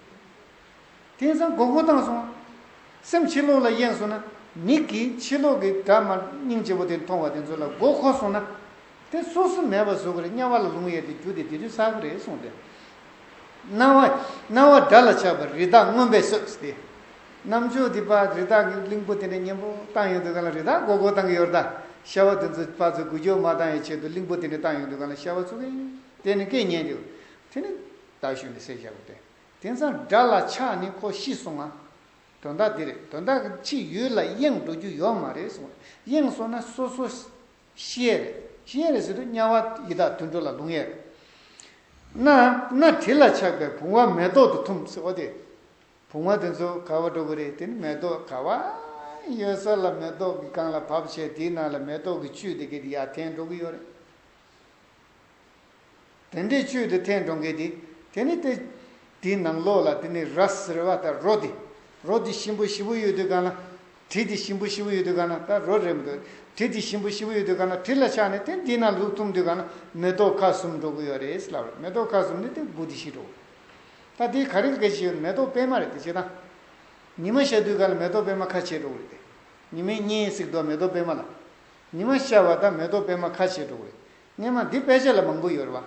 Speaker 1: དེང་སང་མགོ་སྒུར་བཏང་སོང། སེམས་ཕྱི་ལོག་ལ་གཡེང་སོང་ན། མིག་གིས་ཕྱི་ལོག་གི་སྦྲ་དམར་སྙིང་རྗེ་བོ་དེ་མཐོང་བ་དེ་ཚོ་ལ་མགོ་འཁོར་སོང་ན། དེ་སོ་སོ་མེད་པར་བཟོ་གི་རེད་དམྱལ་བ་ལ་ལུང་གཡས་ཏེ་རྒྱུ་དེ་དེ་དུས་ཟག་གི་རེད་གསུངས་ཏེ། སྣང་བ། སྣང་བ་སྒྲ་ལ་ཆགས་པ་རི་དྭགས་རྔོན་པའི་སོས་ཏེ། གནམ་ལྕགས་དེ་པགས་རི་དྭགས་ཀྱི་གླིང་བུ་དེ་འདྲ་སྙན་པོ་བཏང་ཡོང་དུས་གང་ལ་རི་དྭགས་མགོ་སྒུར་བཏང་གི་ཡོད་རེད་ད། ཤྭ་བ་དེ་ཚོ་པགས་ཚོས་སྒུར་སྐྱོར་མ་བཏང་བའི་ཆེད་དུ་གླིང་བུ་དེ་འདྲ་བཏང་ཡོང་དུས་གང་ལ་ཤྭ་བ་ཚོ་གི་དེ་ནི་སྐད་ཉན་དུས། དེ་ནི་ད་ཞོན་ཏེ་སེར་བཞག་གོ་སྟེ། དེང་སང་དགྲ་ལ་ཆགས་ནི་ཁོ་ཤི་སོང་ང། དོན་དག་འདི་རེད་དོན་དག་ཕྱི་ཡུལ་ལ་གཡེང་འགྲོ་རྒྱུ་ཡོད་མ་རེད་གསུངས་བ་གཡེང་སོང་ན་སོ་སོ་ཤི་ཡས་རེད་ཤི་ཡས་རེད་ཟེར་དུས་དམྱལ་བ་ཡི་དྭགས་དུད་འགྲོ་ལ་ལྷུང་ཡས་རེད། ན་ན་དྲི་ལ་ཆགས་པའི་བུང་བ་མེ་ཏོག་ཏུ་འཐུམས་ཟེར་བ་དེ། བུང་བ་དེ་ཚོ་ག་བ་འགྲོ་གི་རེད་དེ་ནི་མེ་ཏོག་ག་བ་ཡོད་ས་ལ་མེ་ཏོག་གི་སྒང་ལ་བབས་བྱས་དེའི་ནང་ལ་མེ་ཏོག་གི་བཅུད་དེ་གི་ཡར་འཐེན་འགྲོ་གི་ཡོད་རེད། དེ་འདྲའི་ཆོས་དེ་ཐལ་འགྲོ་འགལ་ཏེ། དེ་ནི་སྟེ། དེའི་ནང་ལོགས་ལ་དེ་ནི་ར་ཟེར་བ་དང་རོ་དེ། རོ་དེ་ཞིམ་པོ་ཞི་བོ་ཡོད་དུས་གང་ན། དྲི་དེ་ཞིམ་པོ་ཞི་བོ་ཡོད་དུས་གང་ན་ད་རོ་རེད་མི་འདུག་དྲི་དེ་ཞིམ་པོ་ཞི་བོ་ཡོད་དུས་གང་ན་དྲི་ལ་ཆགས་ནས་དེ་འདི་ན་ལུག་འཐུང་དུས་གང་ན་མེ་ཏོག་ཁ་གསུམ་འགྲོ་གི་ཡོད་རེད་ཟེར་ལབ་རེད་མེ་ཏོག་ཁ་གསུམ་ནི་དེ་དགུ་དེ་བཞི་འགྲོ་གི། ད་དེའི་ག་རེ་འགལ་ཞིག་ཡོད་མེ་ཏོག་སྤེལ་མ་རེད་དེ་བྱེད་སྟངས། ཉི་མ་ཤར་དུས་གང་ན་མེ་ཏོག་སྤེལ་མ་ཁ་ཕྱེ་འགྲོ་གི་རེད་དེ། ཉི་མའི་གཉེན་གཟིགས་འགྲོ་མེ་ཏོག་སྤེལ་མ་ལ། ཉི་མ་ཤར་བ་དང་མེ་ཏོག་སྤེལ་མ་ཁ་ཕྱེ་འགྲོ་གི་རེད། སྙན་མ་འདི་དཔེ་ཆ་ལ་མང་པོ་ཡོད་རེད་བ།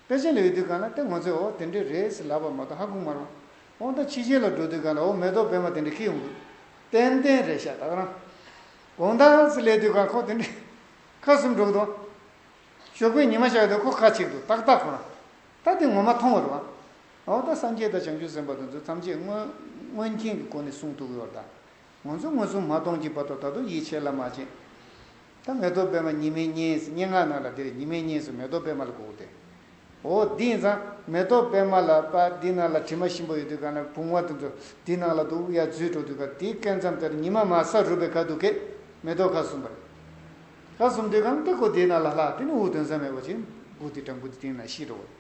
Speaker 1: དཔེ་ཆ་ལ་ཡོད་དུས་གང་ལ་ལྟ་ངོ་ཚོས་འོ་དེ་འདྲས་རེད་ཟེར་ལབ་པ་མ་གཏོགས་ཧ་གོ་མ་རུང། འོང་ད་ཕྱི་ཆེན་ལ་འགྲོ་དུས་གང་ལ་འོ་མེ་ཏོག་བེ་མ་དེ་འདྲས་ཁེལ་ཡོང་དགོས། ཏན་ཏན་རེད་ཤ་སྟག་རང། དགོང་ད་ཟེར་སླེབས་དུས་གང་ཁོག་དེ་འདྲས། ཁ་གསུམ་སྒྲོག་འདུག་བ། ཞོགས་པའི་ཉི་མ་ཤར་དུས་ཁོག་ཁ་ཕྱིར་འདུག་ཏག་ཏག་ཁོ་རང། ད་དེ་ངོ་མ་མཐོང་རེད་བ། འོ་ད་སངས་རྒྱས་དང་བྱང་ཆུབ་སེམས་དཔའ་དང་ཚུལ་ཐམས་ཅད་དངོས། དངོས་མཁྱེན་གྱི་སྒོ་ནས་གསུངས་ཐུག་ཡོད་རེད་ད། ང་ཚོ་ངོས་བཟུང་མ་གཏོང་གྱིས་བར་དོ་ད་དུང་ཡིད་ཆེས་ལ་མ་བྱེད། ད་མེ་ཏོག་པད་མ་ཉི་མའི་སྙན་སྙན་ངག་ནང་ལ་འདིར་ཉི་མའི་སྙན་སུ་མེ་ཏོག་པད་མ་ལ་གོ་དེ། འོ་འདི་ཡིན་ཙང་མེ་ཏོག་པད་མ་ལ་པ་འདི་ནང་ལ་དྲི་མ་ཞིམ་པོ་ཡོད་དུས་གང་ན་བུང་བ་དེ་ཚོ་འདི་ནང་ལ་དུག་ཡ་འཛུལ་འགྲོ་དུས་ག་དེའི་སྐད་མཚམས་དེར་ཉི་མ་མ་ས་རུབ་པའི་ག་དུག་སྐད་མེ་ཏོག་ཁ་ཟུམ་པ་རེད། ཁ་ཟུམ་དུས་གང་སྟེ་གོ་དེའི་ནང་ལ་ལྷག་དེ་ནི་འུ་དོན་ཟ་མེད་པ་ཅིག་འགུག་དེ་སྒྲ་འགུག་དེ་དེའི་ནང་ཤི་འགྲོ་བ་རེད།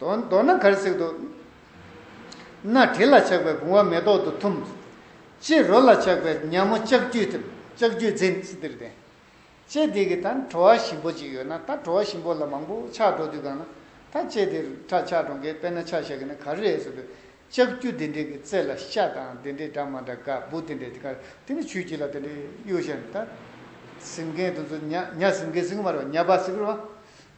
Speaker 1: མདོར་ན་གར་སྲེག་ཏུ། སྣ་དྲི་ལ་ཆགས་པའི་བུང་བ་མེ་ཏོག་ཏུ་འཐུམ། ལྕེས་རོ་ལ་ཆགས་པའི་ཉག་མོ་ལྕགས་ཀྱུས་འཐུམ། ལྕགས་ཀྱུས་འཛིན། ལྕེ་འདི་གི་ད་བྲོ་བ་ཞིམ་པོ་ཅིག་ཡོད་ན་ད་བྲོ་བ་ཞིམ་པོ་ལ་མང་པོ་ཆགས་འགྲོ་དུས་གང་ན་ད་ལྕེ་འདི་རུ་ཁྲག་ཆགས་འགྲོ་མཁན་དཔེར་ན་ཆགས་ཞག་གི་ན་ག་རུ་རེད་ཟེར་དུས། ལྕགས་ཀྱུ་འདི་འདྲའི་གི་རྩེ་ལ་ཤ་དང་འདི་འདྲའི་འདྲ་མ་འདྲ་ག་སྦུ་འདི་འདྲའི་དཀར་འདི་འདྲའི་ཆུ་ཁྱི་ལ་འདི་འདྲའི་གཡུ་ཞལ་ད། སིམ་མཁན་དུ་ཚུར་ཉག་ཉག་སིམ་མཁན་སིག་གུ་མ་རེད་བ་ཉག་པ་སིག་གུ་རེད་བ།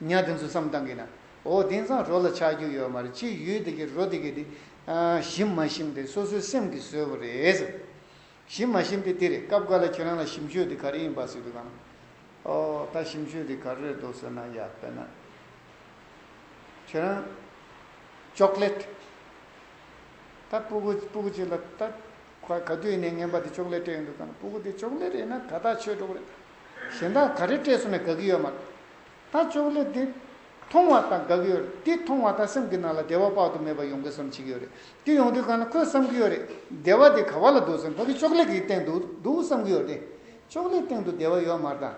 Speaker 1: གཉའ་དེ་ཚོ་བསམ་བཏང་གི་ན། འོ་དེང་སང་རོ་ལ་ཆགས་རྒྱུ་ཡོད་མ་རེད་ཕྱིས་ཡུལ་དེ་གི་རོ་དེ་གི་དེ། ཞིམ་མ་ཞིམ་དེ་སོ་སོའི་སེམས་ཀྱིས་བཟོས་པ་རེད། ཞིམ་མ་ཞིམ་དེ་དེ་རེད་སྐབས་འགའ་ལ་ཁྱོད་རང་ལ་ཞིམ་ཆོས་དེ་ག་རེ་ཡིན་པ་ཟེར་དུས་གང། ཨོ་ད་ཞིམ་ཆོས་དེ་ག་རེ་རེད་འདུག་ཟེར་ན་ཡ་དཔེར་ན། ཁྱོད་རང། Chocolate། ད་སྤུ་གུ་སྤུ་གུ་ཅིག་ལ་ད། ཁོ་ག་དུས་ནས་ངན་པ་དེ་ཅོག་ལེ་སྤྲད་ཡོད་འདུག་གམ་སྤུ་གུ་དེ་ཅོག་ལེ་རེད་ན་ད་ཐག་ཆོད་འགྲོ་གི་རེད། གཞན་དག་ག་རེ་སྤྲད་སོང་ནས་དགག་གི་ཡོད་མ་རེད། ད་ཅོག་ལེ་དེ་མཐོང་བ་དང་དགག་གི་ཡོད་རེད་དེ་མཐོང་བ་དང་སེམས་ཀྱི་ནང་ལ་བདེ་བ་དཔག་ཏུ་མེད་པ་ཡོང་གི་བསམ་གྱི་ཡོད་རེད་དེ་ཡོང་དུས་གང་ལ་ཁོས་བསམ་གྱི་ཡོད་རེད་བདེ་བ་དེ་ག་བ་ལ་འདུག་སེམས་ཕ་གི་ཅོག་ལེ་གི་སྟེང་དུ་འདུག་བསམ་གྱི་ཡོད་དེ་ཅོག་ལེ་སྟེང་དུ་བདེ་བ་ཡོད་མ་དང་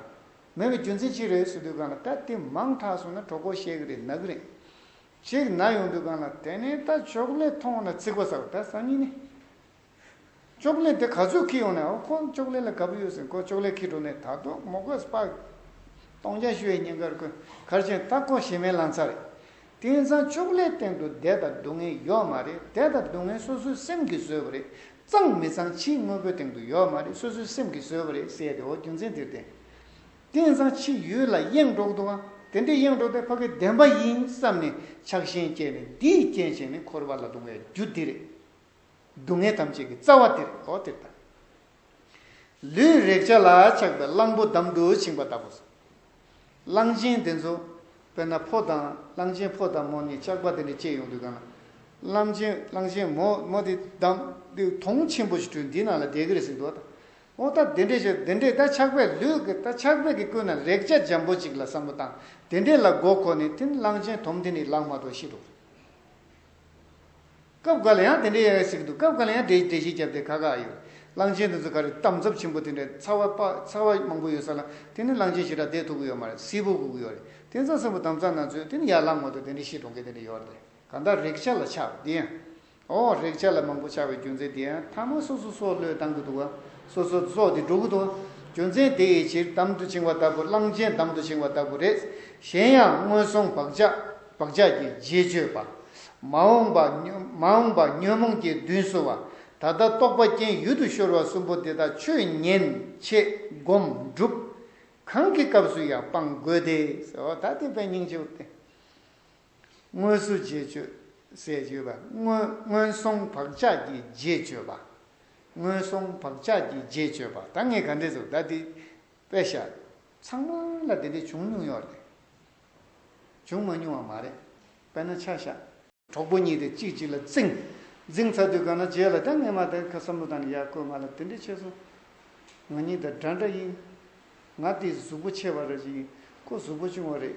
Speaker 1: མེད་པའི་རྒྱུ་མཚན་ཅི་རེད་ཟེར་དུས་གང་ལ་ད་དེ་མང་དྲགས་སོང་ན་གྲོགས་པོ་བཤད་གི་རེད་ནག་རེད། ཅིག་ན་ཡོང་དུས་གང་ལ་དེ་ནས་ད་ཅོག་ལེ་མཐོང་ན་ཚིག་པ་ཟ་བ་ད་སང་ཉིན་ནས་ཅོག་ལེ་དེ་ག་ཚོད་ཁྱི་ཡོང་ནས་ཨོ་ཁོ་ཅོག་ལེ་ལ་དགའ་པོ་ཡོད་ཟེར་ཁོ་ཅོག་ལེ་ཁྱི་འགྲོ་ནས་ད་དོག་མོ་གོས་སྤགས་སྟོང་རྒྱ་ཤི་བའི་ཉིན་གར་ཁོས་གར་ཆེན་ད་ཁོ་ཞེ་མེད་ལང་ཚ་རེད། དེང་སང་ཅོག་ལེའི་སྟེང་དུ་བདེ་དང་སྡུག་བསྔལ་ཡོད་མ་རེད་བདེ་དང་སྡུག་བསྔལ་སོ་སོའི་སེམས་ཀྱིས་བཟོས་པ་རེད་གཙང་མི་གཙང་ཕྱིའི་དངོས་པོའི་སྟེང་དུ་ཡོད་མ་རེད་སོ་སོའི་སེམས་ཀྱིས་བཟོས་པ་རེད་ཟེར་ཏེ་ཨོ་རྒྱུ་མཚན་དེར་བརྟེན་རྟེན་བཟང་ཕྱི་ཡུལ་ལ་གཡེང་འགྲོགས་འདུག་ཨ། དེ་འདྲའི་གཡེང་འགྲོགས་དེ་ཕ་གི་བདེན་པ་ཡིན་བསམ་ནས་ཆགས་ཞེན་སྐྱེས་ནས་འདིས་རྐྱེན་བྱས་ནས་འཁོར་བ་ལ་ལྡོང་བའི་རྒྱུ་འདི་རེད། སྡུག་བསྔལ་ཐམས་ཅད་ཀྱི་རྩ་བ་དེ་རེད་འོ་དེར་ལྟ། ལུས་རེག་བྱ་ལ་ཆགས་པའི་གླང་པོ་འདམ་དུ་བྱིང་བ་ལྟ་བུ། གླང་ཆེན་དེ་ཚོ། དཔེར་ན་ཕོ་དང་གླང་ཆེན་ཕོ་དང་མོ་གཉིས་ལྕགས་པ་དེ་འདྲས་བཅས་ཡོང་དུས་གང་ལ། གླང་ཆེན་གླང་ཆེན་མོ་མོ་དེ་འདམ་དེ་དོང་ཆེན་པོ་ཞིག་དྲུད་འདིའི་ནང་ལ་བསྡད་ཀི་རེད་ཟེར་འདུག་ཨ། ཨོ་ད་དེ་འདྲས་བྱོས་དེ་འདྲས་ད་ཆགས་པས་ལུས་ཀྱི་ད་ཆགས་པས་ཀྱི་ཀུན་ན་རེག་བྱ་འཇམ་པོ་གཅིག་ལ་བསམ་བློ་བཏང་དེ་འདྲས་ལ་མགོ་འཁོར་ནས་དེ་ནི་གླང་ཆེན་དོམ་དེ་ནི་ལག་མ་དོ་ཤི་འགྲོ། སྐབས་འགའ་ལ་ཡང་དེ་འདྲས་ཡ་ཡ་ཟིག་འདུག་སྐབས་འགའ་ལ་ཡང་འདྲེ་ཞིག་བརྒྱབ་སྟེ་ཁ་ཁ་ཨ་ཡོད། གླང་ཆེན་དེ་ཚོ་ག་རེ་དམ་ཚབ་ཆེན་པོ་དེ་འདྲས་ཚ་བ་དཔའ་ཚ་བ་མང་པོ་ཡོད་ས་ལ་དེ་ནི་གླང་ཆེན་ཞེ་དྲག་དེས་ཐུག་གི་ཡོད་མ་རེད་སིལ་བུ་ཁུག་གི་ཡོད་རེད་དེ་ཚོ་སེམས་པོ་དམ་ཚག་ན་ཚོད་དེ་ནི་ཡར་ལངས་མ་ཐུབ་དེ་འདྲས་ཤི་འགྲོ་མཁན་དེ་འདྲས་ཡོད་རེད་གང་ལྟར་རེག་བྱ་ལ་ཆགས་པ་དེ་ཡང། ཨོ་རེག་བྱ་ལ་མང་པོ་ཆགས་པའི་རྒྱུ་མཚན་དེའང་ཐ་མ་སོ་སོ་སྲོག་བློས་བཏང་གི་འདུག་ཨ། སོ་སོར་སྲོག་དེ་འགྲོ་གི་འདུག་ཨ། རྒྱུ་མཚན་དེ་ཡི་ཕྱིར་དམ་དུ་བྱིང་བ་ལྟ་བུ་གླང་ཆེན་དམ་དུ་བྱིང་བ་ལྟ་བུ་རེད། གཞན་ཡང་སྔོན་སོང་བག་ཆགས་ཀྱི་རྗེས་གཅོད་པ། མ་འོངས་པ་ཉོན་མོངས་ཀྱི་མདུན་བསུ་བ། ད་ལྟ་རྟོགས་པ་རྐྱེན་ཡུལ་དུ་ཤོར་བ་གསུམ་པོ་འདི་དག་ཆོས་ཉན་བྱེད་སྒོམ་སྒྲུབ་གང་གི་སྐབས་སུ་ཡང་སྤང་དགོས་ཏེ། ད་དེ་པས་སྙིང་རྗེ་བོ་སྟེ། སྔོན་བསུ་རྗེས་གཅོད། ཟས་གཅོད་པ། སྔོན་སོང་བག་ཆགས་ཀྱི་རྗེས་གཅོད་པ། སྔོན་སོང་བག་ཆགས་ཀྱི་རྗེས་གཅོད་པ་ད་ངས་ག་འདྲས་ཟོ་ད་འདི་པད་ཤ། ཚང་མ་ལ་དེ་འདྲས་བྱུང་མྱོང་ཡོད་རེད། བྱུང་མ་མྱོང་བ་མ་རེད། དཔེར་ན་ཆ་ཤ། གྲོགས་པོ་གཉིས་དེ་གཅིག་གཅིག་ལ་རྩིང། རྫིང་ཚ་དུས་ག་ན་རྗེས་ལ་ད་ངས་མ་དེ་ག་བསམ་བློ་དང་ཡ་བསྐོས་མ་ལ་དེ་འདྲས་བྱས་སོང། ང་གཉིས་ད་འདྲ་འདྲ་ཡིན། ང་དེའི་གཟུགས་པོ་ཆེ་བ་རེད་ཅིག་ཡིན། ཁོ་གཟུགས་པོ་ཆུང་བ་རེད།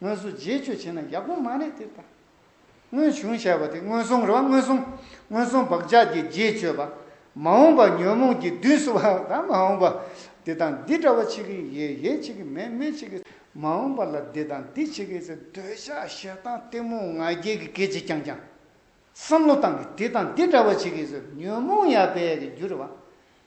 Speaker 1: དངོས་སུ་རྗེས་གཅོད་བྱས་ན་ཡག་པོ་མ་རེད་དེ་ལྟ། སྔོན་བྱུང་བྱས་པ་དེ་སྔོན་སོང་རེད་བ་སྔོན་སོང་སྔོན་སོང་བག་ཆགས་ཀྱི་རྗེས་གཅོད་པ། མ་འོངས་པ་ཉོན་མོངས་ཀྱི་བདུད་གསོ་བ་དང་མ་འོངས་པ་འདི་དང་འདི་འདྲ་བ་བྱེད་ཀྱི་ཡོད་ཡོད་བྱེད་ཀྱི་མེད་མེད་བྱེད་ཀྱི། མ་འོངས་པ་ལ་འདི་དང་འདི་བྱེད་ཀྱི་ཟེར་འདོད་ཆགས་ཞེ་སྡང་གཏི་མུག་ང་རྒྱལ་གྱི་སྐད་ཅིག་རྐྱང་རྐྱང། བསམ་བློ་བཏང་གི་འདི་དང་འདི་འདྲ་བ་བྱེད་ཀྱི་ཟེར་ཉོན་མོངས་ཡར་འཕེལ་གྱི་རྒྱུ་རེད་བ།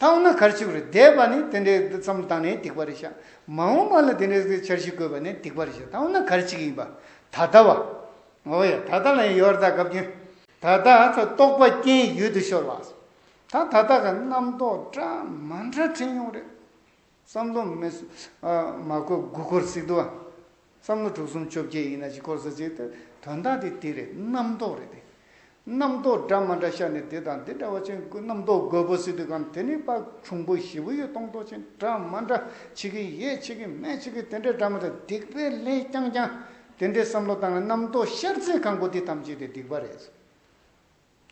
Speaker 1: བཏང་ན་གར་ཆུག་རེད་བསྡད་པ་ནི་དེ་འདྲའི་བསྡུ་མཚམས་བཏང་ནས་སྡིག་པ་རེད་བཤད། མ་འོངས་པ་ལ་དེ་འདྲའི་བསྡུ་འཆར་ཞིག་དགོས་པ་ནི་སྡིག་པ་རེད་བཤད་བཏང་ན་གར་ཆིག་ཡིན་པ། ད་ལྟ་བ། འོ་ཡ་ད་ལྟ་ལ་ཡང་ཡོར་ད་གབ་ཀྱིན། ད་ལྟ་ཨ་ཚ་རྟོགས་པ་རྐྱེན་ཡུལ་དུ་ཤོར་བ། ད་ད་ལྟ་གི་རྣམ་རྟོག་སྐྲ་མ་འདྲ་འཕྲེང་ཡོང་རེད། བསམ་བློ་མི། མ་བཀོད་དགུ་འཁོར་སིག་ཏུ། བསམ་བློ་དྲུག་གསུམ་བཅོ་བརྒྱད་ཡིན་ན་བཞི་འཁོར་ས་ཚིག་ཏུ། དོན་དག་དེ་དེ་རེད་རྣམ་རྟོག་རེད་དེ། རྣམ་རྟོག་འདྲ་མ་འདྲ་ཤར་ནས་དེ་དང་དེ་འདྲ་བ་ཅན་དགུ་རྣམ་རྟོག་དགོས་པོ་སིག་ཏུ་གམ་དེ་ནི་དཔག་གྲུང་པོ་བཞི་པོ་ཡོད་སྟོང་རྟོག་ཅན་འདྲ་མ་འདྲ་ཆི་གི་ཡས་ཆི་གི་མས་ཆི་གི་དེ་འདྲ་འདྲ་མ་འདྲ་སྡིག་པས་ལན་རྐྱང་རྐྱང་དེ་འདྲའི་བསམ་བློ་བཏང་ན་རྣམ་རྟོག་ཤར་ཚེ་གང་དགོས་དེ་ཐམས་ཅད་དེ་སྡིག་པ་རེད།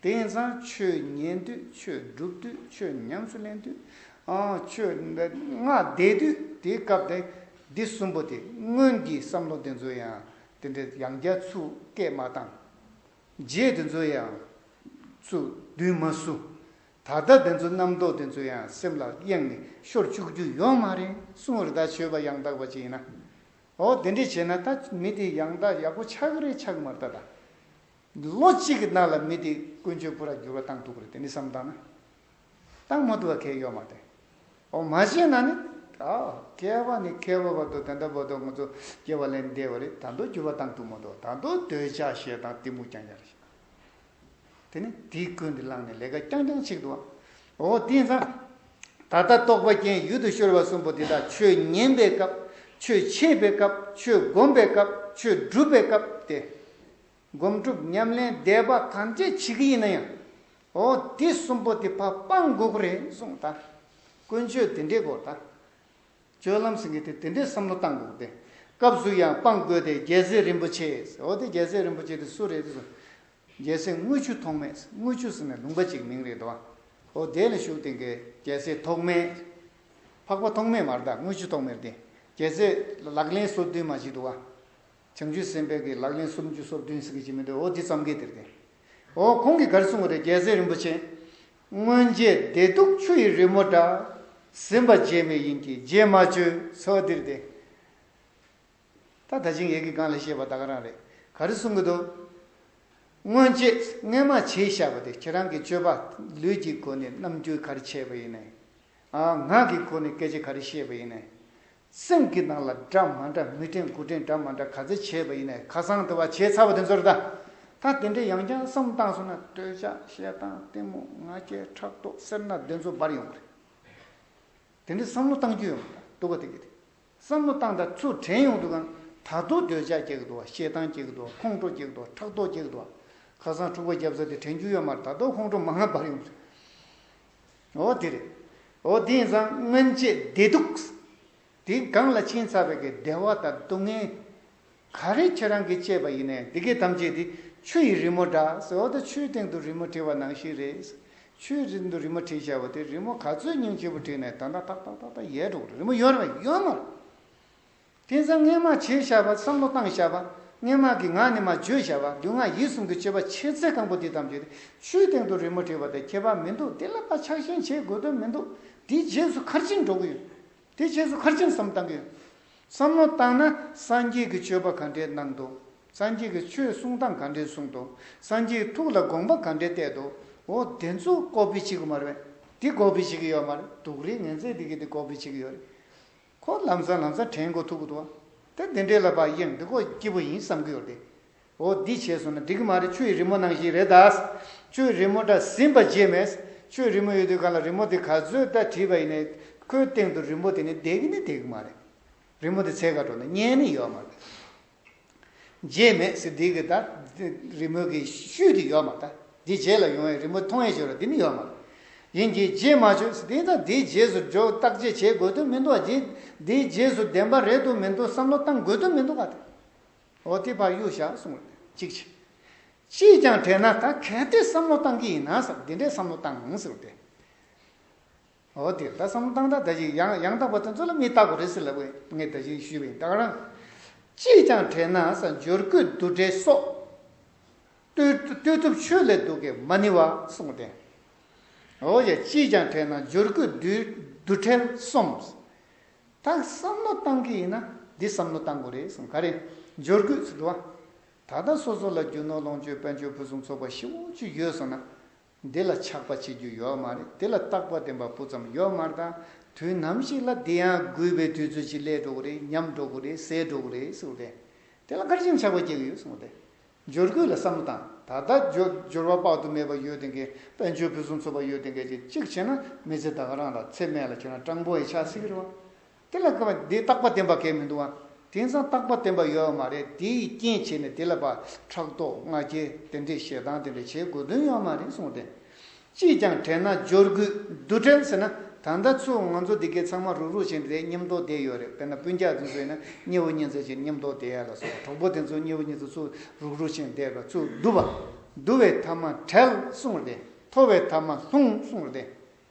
Speaker 1: དེང་སང་ཆོས་ཉན་དུས་ཆོས་བསྒྲུབ་དུས་ཆོས་ཉམས་སུ་ལེན་དུས། ཆོས་སྔགས་བཟླས་དུས་དེའི་སྐབས་དེ་འདི་གསུམ་པོ་དེ་སྔོན་གྱི་བསམ་བློ་དེ་ཚོ་ཡང་དེ་འདྲའི་ཡང་རྒྱ་མཚོ་སྐད་མ་བཏང། རྗེས་དེ་ཚོ་ཡང་ཚུར་བསྡུས་མ་བསུ། ད་ལྟ་དེ་ཚོ་རྣམ་རྟོག་དེ་ཚོ་ཡང་སེམས་ལ་གཡེང་ནས་ཤོར་བཅུག་རྒྱུ་ཡོད་མ་རེད་གསུང་བར་ད་ཆོས་པ་ཡང་དག་པ་ཅིག་ཡིན་ན། འོ་དེ་འདྲས་བྱས་ན་ད་མི་དེ་ཡང་དག་ཡག་པོ་ཆགས་ཀྱི་རེད་ཆགས་ཀྱི་མ་རེད་ད་ད། ལོ་གཅིག་གི་ནང་ལ་མི་དེ་ཀུན་སྤྱོད་སྤུ་ར་འགྱུར་བ་བཏང་འདུག་གི་རེད་དེ་ནི་བསམ་བཏང་ན་བཏང་མ་འདུག་བ་གལ་ཡོད་མ་རེད། འོ་མ་བྱས་ན་ནི་ཀ་བ་ནི་ཁའི་བ་བར་དུ་དེ་འདྲ་བོ་དོ་ང་ཚོ་སྐྱེ་བ་ལས་འདས་བ་རེད་ད་འདོད་འགྱུར་བ་བཏང་འདུག་མ་འདོད་ད་འདོད་འདོད་ཆགས་ཞེ་སྡང་གཏི་མུག་རྐྱང་རྐྱང་རེད་བྱས་ན་དེ་ནི་དེ་ཀུན་དེ་བླངས་ནས་ལས་ཀ་རྐྱང་རྐྱང་བྱེད་འདུག་བ་འོ་དེང་སང་ད་ལྟ་རྟོགས་པ་རྐྱེན་ཡུལ་དུ་ཤོར་བ་གསུམ་པོ་དེ་དག་ཆོས་ཉན་པའི་སྐབས་ཆོས་འཆད་པའི་སྐབས་ཆོས་བསྒོམ་པའི་སྐབས་ཆོས་སྒྲུབ་པའི་སྐབས་ཏེ། སྒོམ་སྒྲུབ་ཉམས་ལེན་བཟླས་པ་ཐམས་ཅད་བྱེད་ཀྱི་ཡིན་ན་ཡང། འོ་དེ་གསུམ་པོ་དེ་ཕ་སྤང་དགོས་ཀྱི་རེད་གསུངས་ད། ཀུན་སྤྱོད་དེ་འདྲའི་སྐོར་ད། སྤྱོད་ལམ་ཟེར་མཁན་དེ་དེ་འདྲའི་བསམ་བློ་བཏང་དགོས་ཀྱི་རེད། སྐབས་སུ་ཡང་སྤང་དགོས་ཏེ་རྒྱལ་སྲས་རིན་པོ་ཆེ་ཟེར་འོ་དེ་རྒྱལ་སྲས་རིན་པོ་ཆེ་དེ་སུ་རེད་དེ་གསུངས། རྒྱལ་སྲས་དངུལ་ཆུ་ཐོགས་མེད་དངུལ་ཆུ་ཟེར་ནི་ལུང་པ་ཅིག་མིང་རེད་དོ། འོ་དེ་ལ་བཞུགས་དེ་གའི་རྒྱལ་སྲས་ཐོགས་མེད། འཕགས་པ་ཐོགས་མེད་མ་རེད་ད་དངུལ་ཆུ་ཐོགས་མེད་རེད་དེ། རྒྱལ་སྲས་ལག་ལེན་སོ་བདུན་མ་ཞིག་འདུག་ཨ། བྱང་ཆུབ་སེམས་དཔའི་གིས་ལག་ལེན་སུམ་ཅུ་སོ་བདུན་གཟིགས་ཀྱི་ཅི་མི་འདོད་འོ་འདི་ཙམ་གྱིས་དེར་བསྟན། འོ་ཁོང་གིས་གར་གསུངས་པ་རེད་རྒྱལ་སྲས་རིན་པོ་ཆེ། སྔོན་རྗེས་བདེ་སྡུག་ཆུ་ཡི་རི་མོ་འདྲ། ཟིན་པ་རྗེས་མེད་ཡིན་གྱི་རྗེས་མ་བཅོས་འོ་འདིར་བསྟན། ད་ད་ཆིངས་ཡིག་གི་སྒང་ལས་བཤད་པ་ད་ག་རང་རེད་ག་རེ་གསུངས་གི་འདུག། སྔོན་རྗེས་རྔན་མ་བྱས་བཞག་པ་དེ་ཁྱེད་རང་གིས་སྤྱོད་པ་ལུས་ཀྱི་སྒོ་ནས་རྣམ་འགྱུར་ག་རེ་བྱས་པ་ཡིན། ངག་གི་སྒོ་ནས་སྐད་ཆ་ག་རེ་བཤད་པ་ཡིན། སེམས་ཀྱི་ནང་ལ་འདྲ་མ་འདྲ་མི་དྲན་དགུ་དྲན་འདྲ་མ་འདྲ་ག་ཚད་བྱས་པ་ཡིན་ནས་ཁ་སང་དུ་བ་བྱས་ཚར་བ་དེ་ཚོར་ད་ད་དེ་འདྲའི་ཡང་སྐྱང་བསམ་སྟངས་སོང་ན་སྟོད་ཆ་བཤད་སྟངས་ལྟད་མོ་ང་རྒྱལ་ཕྲག་དོག་གསེར་སྣ་དེ་ཚོ་འབར་ཡོང་གི་རེད། དེ་འདྲའི་བསམ་བློ་བཏང་རྒྱུ་ཡོང་གི་ད་འདུག་ག་དེ་གི་རེད་བསམ་བློ་བཏང་ད་ཚུར་དྲན་ཡོང་འདུག་གམ་ད་དུང་སྟོད་ཆ་སྐྱེ་གི་འདུག་བ་བཤད་སྟངས་སྐྱེ་གི་འདུག་བ་ཁོང་ཁྲོ་སྐྱེ་གི་འདུག་བ་ཕྲག་དོག་སྐྱེ་གི་འདུག་བ་ཁ་སང་འཁྲུག་པ་བརྒྱབ་ས་དེ་དྲན་རྒྱུ་ཡོད་མ་རེད་ད་དུང་ཁོང་ཁྲོ་མ་ང་འབར་ཡོང་གི་རེད། འོ་དེ་རེད། འོ་དེ་ཡིན་ཙང་སྔོན་ཆད་བདེ་སྡུག། དེ་སྒང་ལ་ཕྱིན་ཚར་བའི་བདེ་བ་དང་སྡུག་བསྔལ། ག་རེ་ཁྱེད་རང་གིས་སྤྱད་པ་ཡིན་ནས་འདི་གའི་དམ་བཅས་དེ་ཆུ་ཡི་རི་མོ་འདྲ་ཟེར་འོ་ད་ཆུའི་སྟེང་དུ་རི་མོ་བྲིས་བ་ནང་བཞིན་རེད། ཆུའི་སྟེང་དུ་རི་མོ་བྲིས་བྱས་བ་དེ་རི་མོ་ག་ཚོད་སྙིང་རྗེ་བོ་བྲིས་ནས་ད་ད་ཐག་ཐག་ཐག་ཐག་ཡལ་འགྲོ་གི་རེད་རི་མོ་ཡོད་རེད་མ་ཡོད་མ་རེད། དེ་ཚེ་སྔས་མ་བྱས་བྱ་བ་བསམ་བློ་བཏང་བྱ་བ། སྔས་མ་གི་ངག་ནི་མ་བརྗོད་བྱ་བ་སྡུག་བསྔལ་ཡིད་གསུམ་གྱི་སྤྱོད་པ་ཆེ་ཚད་གང་པོ་འདི་ཙམ་བྱས་ཏེ་ཆུའི་སྟེང་དུ་རི་མོ་བྲིས་པ་དེ་ཁྱད་པར་མི་འདུག་དེ་ལ་པ་ཆག་ཞེན་བྱེད་དགོས་དོན་མི་འདུག་དེའི་རྗེས་སུ་ཁར་ཕྱིན་འགྲོ་གི་ཡོད། དེ་རྗེས་སུ་ཁར་ཕྱིན་བསམ་བཏང་གི་ཡོད། བསམ་བློ་བཏང་ན་སངས་རྒྱས་ཀྱི་སྤྱོད་པ་ག་འདྲའི་གནང་འདུག་སངས་རྒྱས་ཀྱི་ཆོས་གསུང་སྟངས་ག་འདྲའི་གསུང་འདུག་སངས་རྒྱས་ཐུགས་ལ་དགོངས་པ་ག་འདྲའི་གཏད་འདུག་འོ་དེ་ཚོ་ཀོ་པི་བྱེད་གི་མ་རེད། འདི་ཀོ་པི་བྱེད་གི་ཡོད་མ་རེད་དུག་རེད་ངན་ཚད་འདི་གི་འདི་ཀོ་པི་བྱེད་གི་ཡོད་རེད། ཁོ་ལམ་སང་ལམ་སང་དྲན་གོ་ཐུག་གོ་ཐུག་ཨ། ད་འདི་འདྲའི་ལ་བག་ཡེར་འདི་ཁོ་སྐྱིད་པོ་ཡིན་བསམ་གི་ཡོད་རེད། འོ་འདི་བྱས་སོང་ན་འགྲིག་གི་མ་རེད་ཆུ་ཡི་རི་མོ་ནང་བཞིན་རེད་ད། ཆུ་ཡི་རི་མོ་འདྲ་ཟིན་པ་བརྗེད་མེད། ཆུ་ཡི་རི་མོ་ཡོད་དུས་གང་ལ་རི་མོ་དེ་ག་ཚོད་ལྟ་བྲིས་པ་ཡིན་ནའི། ཁོའི་སྟེང་དུ་རི་མོ་དེ་ནི་བསྡད་ཀི་ནི་བསྡད་ཀི་མ་རེད། རི་མོ་དེ་ཚད་ག་དྲོ་ན་རྙེད་ནི་ཡོད་མ་རེད། རྗེས་མེད་ཟེར་འདི་གི་དང། རི་མོ་གི་ཤུལ་དེ་ཡོད་མ་ད། འདི་རྗེས་ལ་ཡོང་བའི་རི་མོ་མཐོང་ཡས་ཆོས་ར་འདི་ནི་ཡོད་མ། ཡིན་གྱི་རྗེས་མ་ཆོས་ཟེར་འདི་དང་འདིའི་རྗེས་སུ་འཇོག་བརྟག་དཔྱད་བྱེད་དགོས་དོན་མི་འདུག་བ། འདིའི་རྗེས་སུ་བདེན་པ་རེད་འདུག་མི་འདུག་བསམ་བློ་བཏང་དགོས་དོན་མི་འདུག་བ་དང། འོ་དེ་ཕར་གཡུག་བཞག་གསུངས་རེད་ཅིག་བྱས། ཅིས་ཀྱང་དྲན་ན་ད་གལ་ཏེ་བསམ་བློ་བཏང་གི་ཡིན་ན་ཟེར་འདི་འདྲའི་བསམ་བློ་བཏང་ཟེར་བ་དེ། འོ་དེ་ལྟ་བསམ་སྟངས་དག་ད་ཅིག་ཡང་ཡང་དག་པ་དེ་ཚོ་ལ་མི་བལྟ་དགོས་རེད་ཟེར་ལབ་པའི་ངས་ད་བཞིན་ཞུས་པའི་དག་རང་ཅིས་ཀྱང་དྲན་ན་ས་འབྱོར་སྐུད་བསྡུ་སྒྲིལ་སོགས་ལྟོས་ཐུབ་ཆོས་ལས་སྡུག་གི་མ་ནི་བ་གསུངས་དེ། འོ་ཡ་ཅིས་ཀྱང་དྲན་ན་འབྱོར་སྐུད་བསྡུ་སྒྲིལ་སོམས། ད་བསམ་བློ་བཏང་གི་ཡིན་ན་འདི་བསམ་བློ་བཏང་དགོས་རེད་གསུངས་ག་རེ་འབྱོར་སྐུད་བསྡུ་བ། ད་ལྟ་སོ་སོ་ལ་རྒྱུ་ནོར་ལོངས་སྤྱོད་དཔལ་འབྱོར་ཕུན་སུམ་ཚོགས་པ་ཞིག་འོ་ཅི་ཡོད་སོང་ན་འདི་ལ་ཆགས་པ་བྱེད་རྒྱུ་ཡོད་མ་རེད་དེ་ལ་རྟག་པ་བདེན་པ་སྤུ་ཙམ་ཡོད་མ་རེད་ད་དུས་ནམ་ཞིག་ལ་འདི་ཡང་རྒུད་པའི་དུས་ཚོད་ཅིག་སླེབས་འགྲོ་གི་རེད་ཉམས་འགྲོ་གི་རེད་ཟད་འགྲོ་གི་རེད་གསུངས་པ་རེད་དེ་ལ་སྐར་ཆེན་ཆགས་པ་སྐྱེ་གི་ཡོད་གསུངས་པ་རེད་འབྱོར་རྒུད་ལ་བསམ་བློ་བཏང་ད་ལྟ་འབྱོར་བ་དཔག་ཏུ་མེད་པ་ཡོད་དེ་འགའི་དཔལ་འབྱོར་ཕུན་སུམ་ཚོགས་པ་ཡོད་དེ་འགའ་ཅིག་གཅིག་བྱས་ན་མི་ཚེ་ད་ག་རང་ལ་ཚེ་སྨད་ལ་ཁྱོད་རང་སྤྲང་པོ་ཡི་ཆགས་སྲེད་ཀྱི་རེད་བ་དེ་ལ་ཁ་བ་དེ་རྟག་པ་བསྟན་པ་གལ་མི་འདུག་ཨང། དེང་སང་རྟག་པ་བསྟན་པ་ཡོད་ཨ་མ་རེད་དེ་ཡི་རྐྱེན་བྱས་ནས་དེ་ལ་བར་ཕྲག་དོག་མངའ་སྐྱེལ་དེ་འདྲའི་ཞེ་སྡང་དེ་འདྲ་བྱེད་དགོས་དོན་ཡོད་ཨ་མ་རེད་གསུངས་ཏེ། ཅིས་ཀྱང་བྲལ་ན་སྦྱོར་དགོས་འདུག་བྲལ་ཟེར་ན་ད་ལྟ་ཚོས་ང་ཚོ་འདི་གའི་ཚང་མ་རུག་རུག་བྱས་ནས་དེ་སྙེམས་རྟོག་བསྡད་ཡོད་རེད་དཔེར་ན་སྤུན་རྒྱག་དེ་ཚོ་ཡིན་ན་མཉེ་བོ་མཉེ་མཛད་ཅེས་སྙེམས་རྟོག་བསྡད་ཡ་ལ་སོགས་གྲོགས་པོ་དེ་ཚོ་མཉེ་བོ་མཉེ་མཛད་ཚོས་རུག་རུག་བྱས་ནས་བསྡད་པ་ཚོས་བསྡུ་བ་བསྡུ་བའི་ཐབས་མ་བྲལ་གསུངས་ཏེ་མཐོ་བའི་ཐབས་མ་ལྷུང་གསུངས་ཏེ།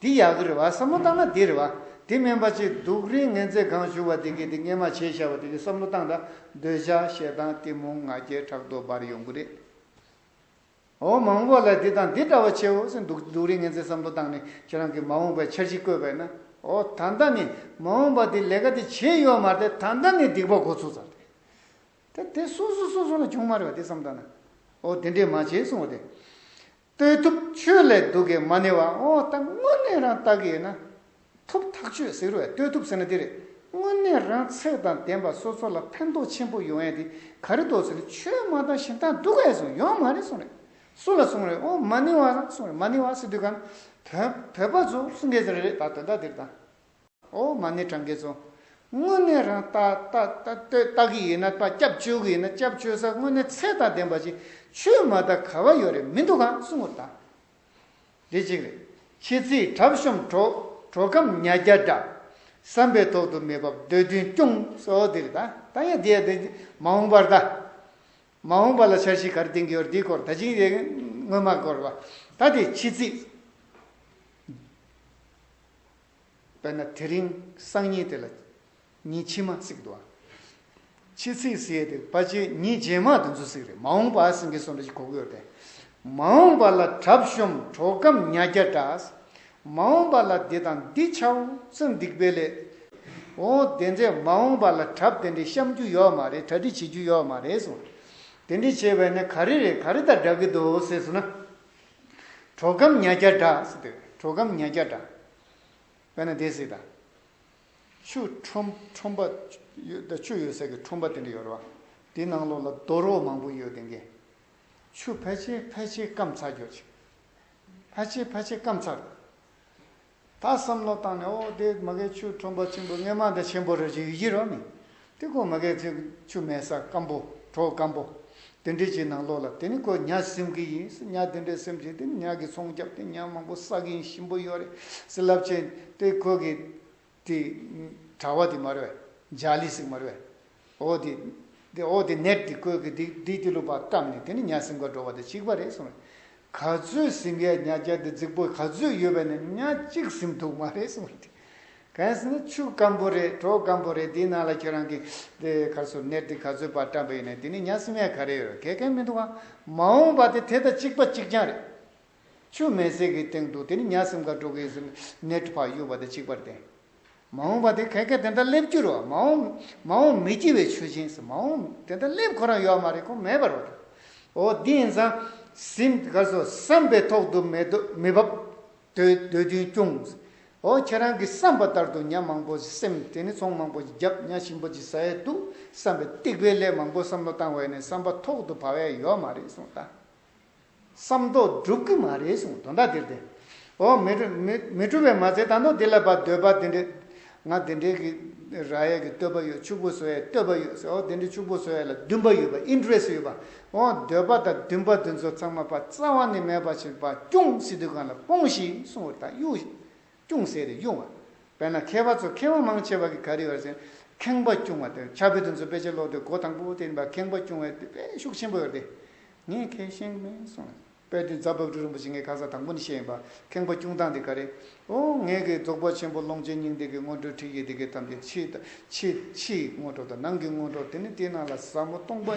Speaker 1: འདི་ཡག་གི་རེད་བ་བསམ་བློ་བཏང་ན་འདི་རེད་བ། འདི་སྨན་པ་གཅིག་སྡུག་རིན་ངན་ཚེ་གང་བཞུགས་བ་འདི་གི་འདི་སྔས་མ་བྱས་ཤ་བ་འདི་གི་བསམ་བློ་བཏང་ད་འདོད་ཆགས་ཞེ་སྡང་གཏི་མུག་ང་རྒྱལ་ཕྲག་དོག་འབར་ཡོང་གི་རེད། འོ་མང་བོ་ལ་འདི་དང་འདི་འདྲ་བ་ཆེ་བོ་སེ་འདུག་སྡུག་རིན་ངན་ཚེ་བསམ་བློ་བཏང་ནས་ཁྱེད་རང་གི་མ་འོངས་པའི་འཆར་གཞི་བཀོད་པས་ན་འོ་ད་ལྟ་ནི་མ་འོངས་པ་འདི་ལས་ཀ་འདི་བྱེད་ཡོད་མ་རེད་ད་ལྟ་ནི་སྡིག་པ་འགོ་ཚུགས་ཚར་རེད། དེ་དེ་སོ་སོ་སོ་སོ་ལ་བྱུང་མ་རེད་བ་འདི་བསམ་ད་ན་འོ་འདི་འདྲས་མ་བྱས་སོང་བ་དེ། ལྟོས་ཐུབ་ཆོས་ལས་སྡུག་གི་མ་ནི་བ་འོ་ད་དངོས་གནས་རང་བལྟ་གི་ཡོད་ན། ཐུབ་ཐག་ཆོད་ཟེར་བའི་ལྟོས་ཐུབ་ཟེར་ན་འདི་རེད་དངོས་གནས་རང་ཚེགས་དང་ལྡན་པ་སོ་སོ་ལ་ཕན་ཐོག་ཆེན་པོ་ཡོང་ཡས་དེ་ག་རེ་དོགས་ཟེར་ན་ཆོས་མ་དང་ཞིན་ཐང་སྡུག་ག་ཡས་སོང་ཡོང་མ་རེད་གསུངས་རེད་སུ་ལ་གསུངས་རེད་འོ་མ་ནི་བ་གསུངས་རེད་མ་ནི་བ་ཟེར་དུས་ག་ནི་བོད་པ་ཚོ་གསུངས་ག་ཟེར་རེད་ད་དོན་དག་འདིར་དང། ཨོ་མ་ནི་གྲངས་ཀའི་ཚོགས། དངོས་གནས་རང་ལྟ་ལྟ་གི་ཡོད་ན་ལྟ་སྐྱབས་བཅོལ་གི་ཡོད་ན་སྐྱབས་བཅོལ་ས་དངོས་གནས་ཚད་དང་ལྡན་པ་ཞིག་ཆོས་མ་དར་ག་བ་ཡོད་རེད་མི་འདུག་གང་གསུང་ངོ་ད་རེད་གཅིག་རེད་ཁྱེད་ཚིག་གྲབ་ཤོམ་གྲོགས་ཁམས་ཉྭ་རྒྱ་འདྲ། བསམ་པའི་ཐོག་ཏུ་མེད་བབ་འདོད་འདུན་སྐྱོང་ས་འོ་དེ་རེད་ད་ད་ཡ་དེ་ཡ་དེ་མ་འོངས་པར་ད་མ་འོངས་པ་ལ་འཆར་གཞི་གར་འདིང་གི་ཡོད་རེད་དེའི་སྐོར་ད་ཅིག་རེད་སྔོན་མ་སྐོར་བ་ད་དེ་ཕྱི་ཚིག། དཔེར་ན་དེ་རིང་སང་ཉིན་དེ་ལ་ཉིན་ཕྱི་མ་ཚིག་འདུག་ཨ། ཕྱི་ཚིག་ཟེར་དེ་དཔའ་ཆེ་ཉིན་རྗེས་མ་དེ་ཚོ་ཚིག་རེད་མ་འོངས་པ་སེང་གེ་སོ་འདྲ་ཞིག་གོ་གི་ཡོད་རེད། མ་འོངས་པ་ལ་གྲབ་གཤོམ་གྲོགས་སྐམ་ཉྭ་རྒྱ་འདྲ། མ་འོངས་པ་ལ་འདི་དང་འདི་ཆའོ་ཙང་སྡིག་པའི་ལས། འོ་དེ་འདྲས་མ་འོངས་པ་ལ་གྲབ་དེ་འདྲས་བཤམ་རྒྱུ་ཡོད་མ་རེད་གྲ་སྒྲིག་བྱེད་རྒྱུ་ཡོད་མ་རེད་གསུངས། དེ་འདྲས་བྱས་པས་ནི་ག་རེ་རེད་ག་རེ་དང་འདྲ་གི་འདུག་ཟེར་སོང་ན། གྲོ་སྐམ་ཉྭ་བརྒྱ་འདྲ་སེ་འདོད། གྲོ་སྐམ་ཉྭ་བརྒྱ་འདྲ། དཔེར་ན་དེ་སྲིད་དང། ཆུ་ཁྲོམ་ཁྲོམ་པ། ཆུ་ཡོད་སའི་གི་ཁྲོམ་པ་དེ་འདྲ་ཡོད་རེད་བ། དེའི་ནང་ལོགས་ལ་རྡོ་རོ་མང་པོ་ཡོད་དེ་གི། ཆུ་ཕལ་ཆེར་ཕལ་ཆེར་སྐམ་ཚར་རྒྱོ་ཆེ། ཕལ་ཆེར་ཕལ་ཆེར་སྐམ་ཚར། ད་བསམ་བློ་བཏང་ནས་ཨོ་དེ་མ་གས་ཆུ་ཁྲོམ་པ་ཆེན་པོ་རྔན་མ་འདི་ཆེན་པོ་རེད་ཅེས་ཡིད་ཀྱི་རོ་ནི་དེ་ཁོ་མ་གས་ཚོས་ཆུ་མེད་ས་སྐམ་པོ་གྲོག་སྐམ་པོ་དེ་འདྲའི་ཆུའི་ནང་ལོག་ལ་དེ་ནི་ཁོ་ཉག་སེམས་ཀྱི་ཡིན་ཟེར་ཉག་དེ་འདྲའི་སེམས་ཀྱི་དེ་ནི་ཉག་གི་ཚོང་རྒྱབ་དེ་ཉག་མང་པོ་བསགས་ཡིན་ཞིམ་པོ་ཡོད་རེད་ཟེར་རླབས་ཆེན་དེ་ཁོ་གི་དེ་གྲྭ་བ་དེ་མ་རེད་བས་འཇའ་ལི་སིག་མ་རེད་བས། འོ་དེ། དེ་འོ་དེ་ནད་དེ་ཁོལ་གི་དེ་བསྡིགས་ཏེ་ལུག་པ་བཀབ་ནས་དེ་ནི་གཉའ་སྲིན་འགོ་འགྲོ་བ་དེ་གཅིག་པ་རེད་གསུངས་རེད། ག་ཚོད་ཟིན་གའི་གཉའ་རྒྱ་དེ་རྫིག་པོ་ག་ཚོད་ཡོད་པ་ནས་གཉའ་གཅིག་ཟིན་འདུག་མ་རེད་གསུངས་རེད། གངས་སེ་ནི་ཆུ་སྐམ་པོ་རེད་གྲོག་སྐམ་པོ་རེད་དེའི་ནང་ལ་ཁྱོད་རང་གི་དེ་གར་སོར་ནད་དེ་ག་ཚོད་པར་བཀྲམ་པ་ཡོད་ནས་དེ་ནི་གཉའ་སྲིན་མའི་ག་རེ་ཡོད་རེད་གལ་གལ་མི་འདུག་ཨང་མ་འོངས་པ་དེ་དེ་དང་གཅིག་པ་གཅིག་རྐྱང་རེད། ཆུ་མེ་ཟེགས་ཀྱི་སྟེང་དུ་དེར་ཉག་སེམས་ཁ་དྲོ་གེ་སེམས་ནད་ཕག་གཡུག་པ་དང་གཅིག་པར་བསྟན། མ་འོངས་པ་དེ་གལ་ཁ་དེ་འདྲ་སླེབས་རྒྱུར་མ་འོངས་མ་འོངས་མི་སྐྱིད་བའི་ཆུ་ཆེན་ཟེར་མ་འོངས་དེ་འདྲ་སླེབས་ཁོ་རང་ཡོད་མ་རེད་ཁོ་མེད་པར་རོ། འོ་འདི་ཡིན་ཙང་སེམས་དགའ་སོ་བསམ་པའི་ཐོག་ཏུ་མེ་ཏོ་མི་བབ། དོལ་རྒྱུན་བསྐྱུང། འོ་ཁྱེད་རང་གི་བསམ་པ་ལྟར་དུ་ཉག་མང་པོ་སེམས་དེ་ནི་ཚོང་མང་པོ་ཞིག་བརྒྱབ་ཉག་ཞིམ་པོ་ཅིག་ཟ་ཡས་འདུག་བསམ་པའི་སྟེགས་པའི་ལས་མང་པོ་བསམ་བློ་བཏང་བས་ནས་བསམ་པ་ཐོག་ཏུ་བབ་ཡས་ཡོད་མ་རེད་གསུངས་ད། བསམ་མདོག་སྒྲུབ་གི་མ་རེད་གསུངས་དོན་དག་འདིར་བདེན། འོ། མི་འཁྲུལ་བའི་མ་ཚད་དང་ཐོག་འདི་ལ་བ་འདོད་པ་འདི་འདྲའི། ང་འདི་འདྲའི་གི། ར་ཡས་གི་བསྟོད་པ་ཡོད་ཕྱུག་པོ་བཟོ་ཡས་བསྟོད་པ་ཡོད་ཟེར་འོ་འདི་འདྲའི་ཕྱུག་པོ་བཟོ་ཡས་ལ་འདུན་པ་ཡོད་པ interest ཡོད་པ། འོ་འདོད་པ་དང་འདུན་པ་འདི་ཚོ་ཚང་མ་བ་རྩ་བ་ནས་མེད་པ་བཞིན་བ་སྐྱུང་སི་དུས་གང་ལ་སྤོངས་ཤིག་གསུངས་བར་ཐག་གཡུག། སྐྱུང་སེ་རེ་གཡུག་བ། བས་ན་མཁས་པ་ཚོ་མཁས་བ་མང་ཆེ་བ་གི་ག་རི་བར་བཞིན། ཁེངས་པ་སྐྱུང་བ་དེ་ཕྱག་དཔེ་དེ་ཚོ་དཔེ་ཆ་ཀློག་དུས་གོ་དང་པོ་དེ་ཡིན་པ་ཁེངས་པ་སྐྱུང་བའི་དཔེ་ཤུགས་ཆེན་པོ་ཡོད་དེ། ངས་མཁས་ཤིང་མིན་གསུངས། དཔལ་དུས་ཛཔ྄་བཀྲུ་རིན་པོ་ཆེ་ངའི་ཁ་ས་དང་པོ་ནས་བཤད་ཡིན་པ་ཁེངས་པ་སྐྱུང་སྟངས་དེ་ག་རེད། ཨོ། ངས་ཀྱི་རྫོགས་པ་ཆེན་པོ་ཀློང་ཆེན་སྙིང་ཏིག་གི་སྔོན་འགྲོའི་ཁྲིད་ཡིག་དེ་གའི་ཐམས་ཅད་ཕྱི་དང། ཕྱི། ཕྱིའི་སྔོན་འགྲོ་དང་ནང་གི་སྔོན་འགྲོ་དེ་ནི་སྟེ་ནང་ལ་ཟབ་མོ་སྟོང་པ་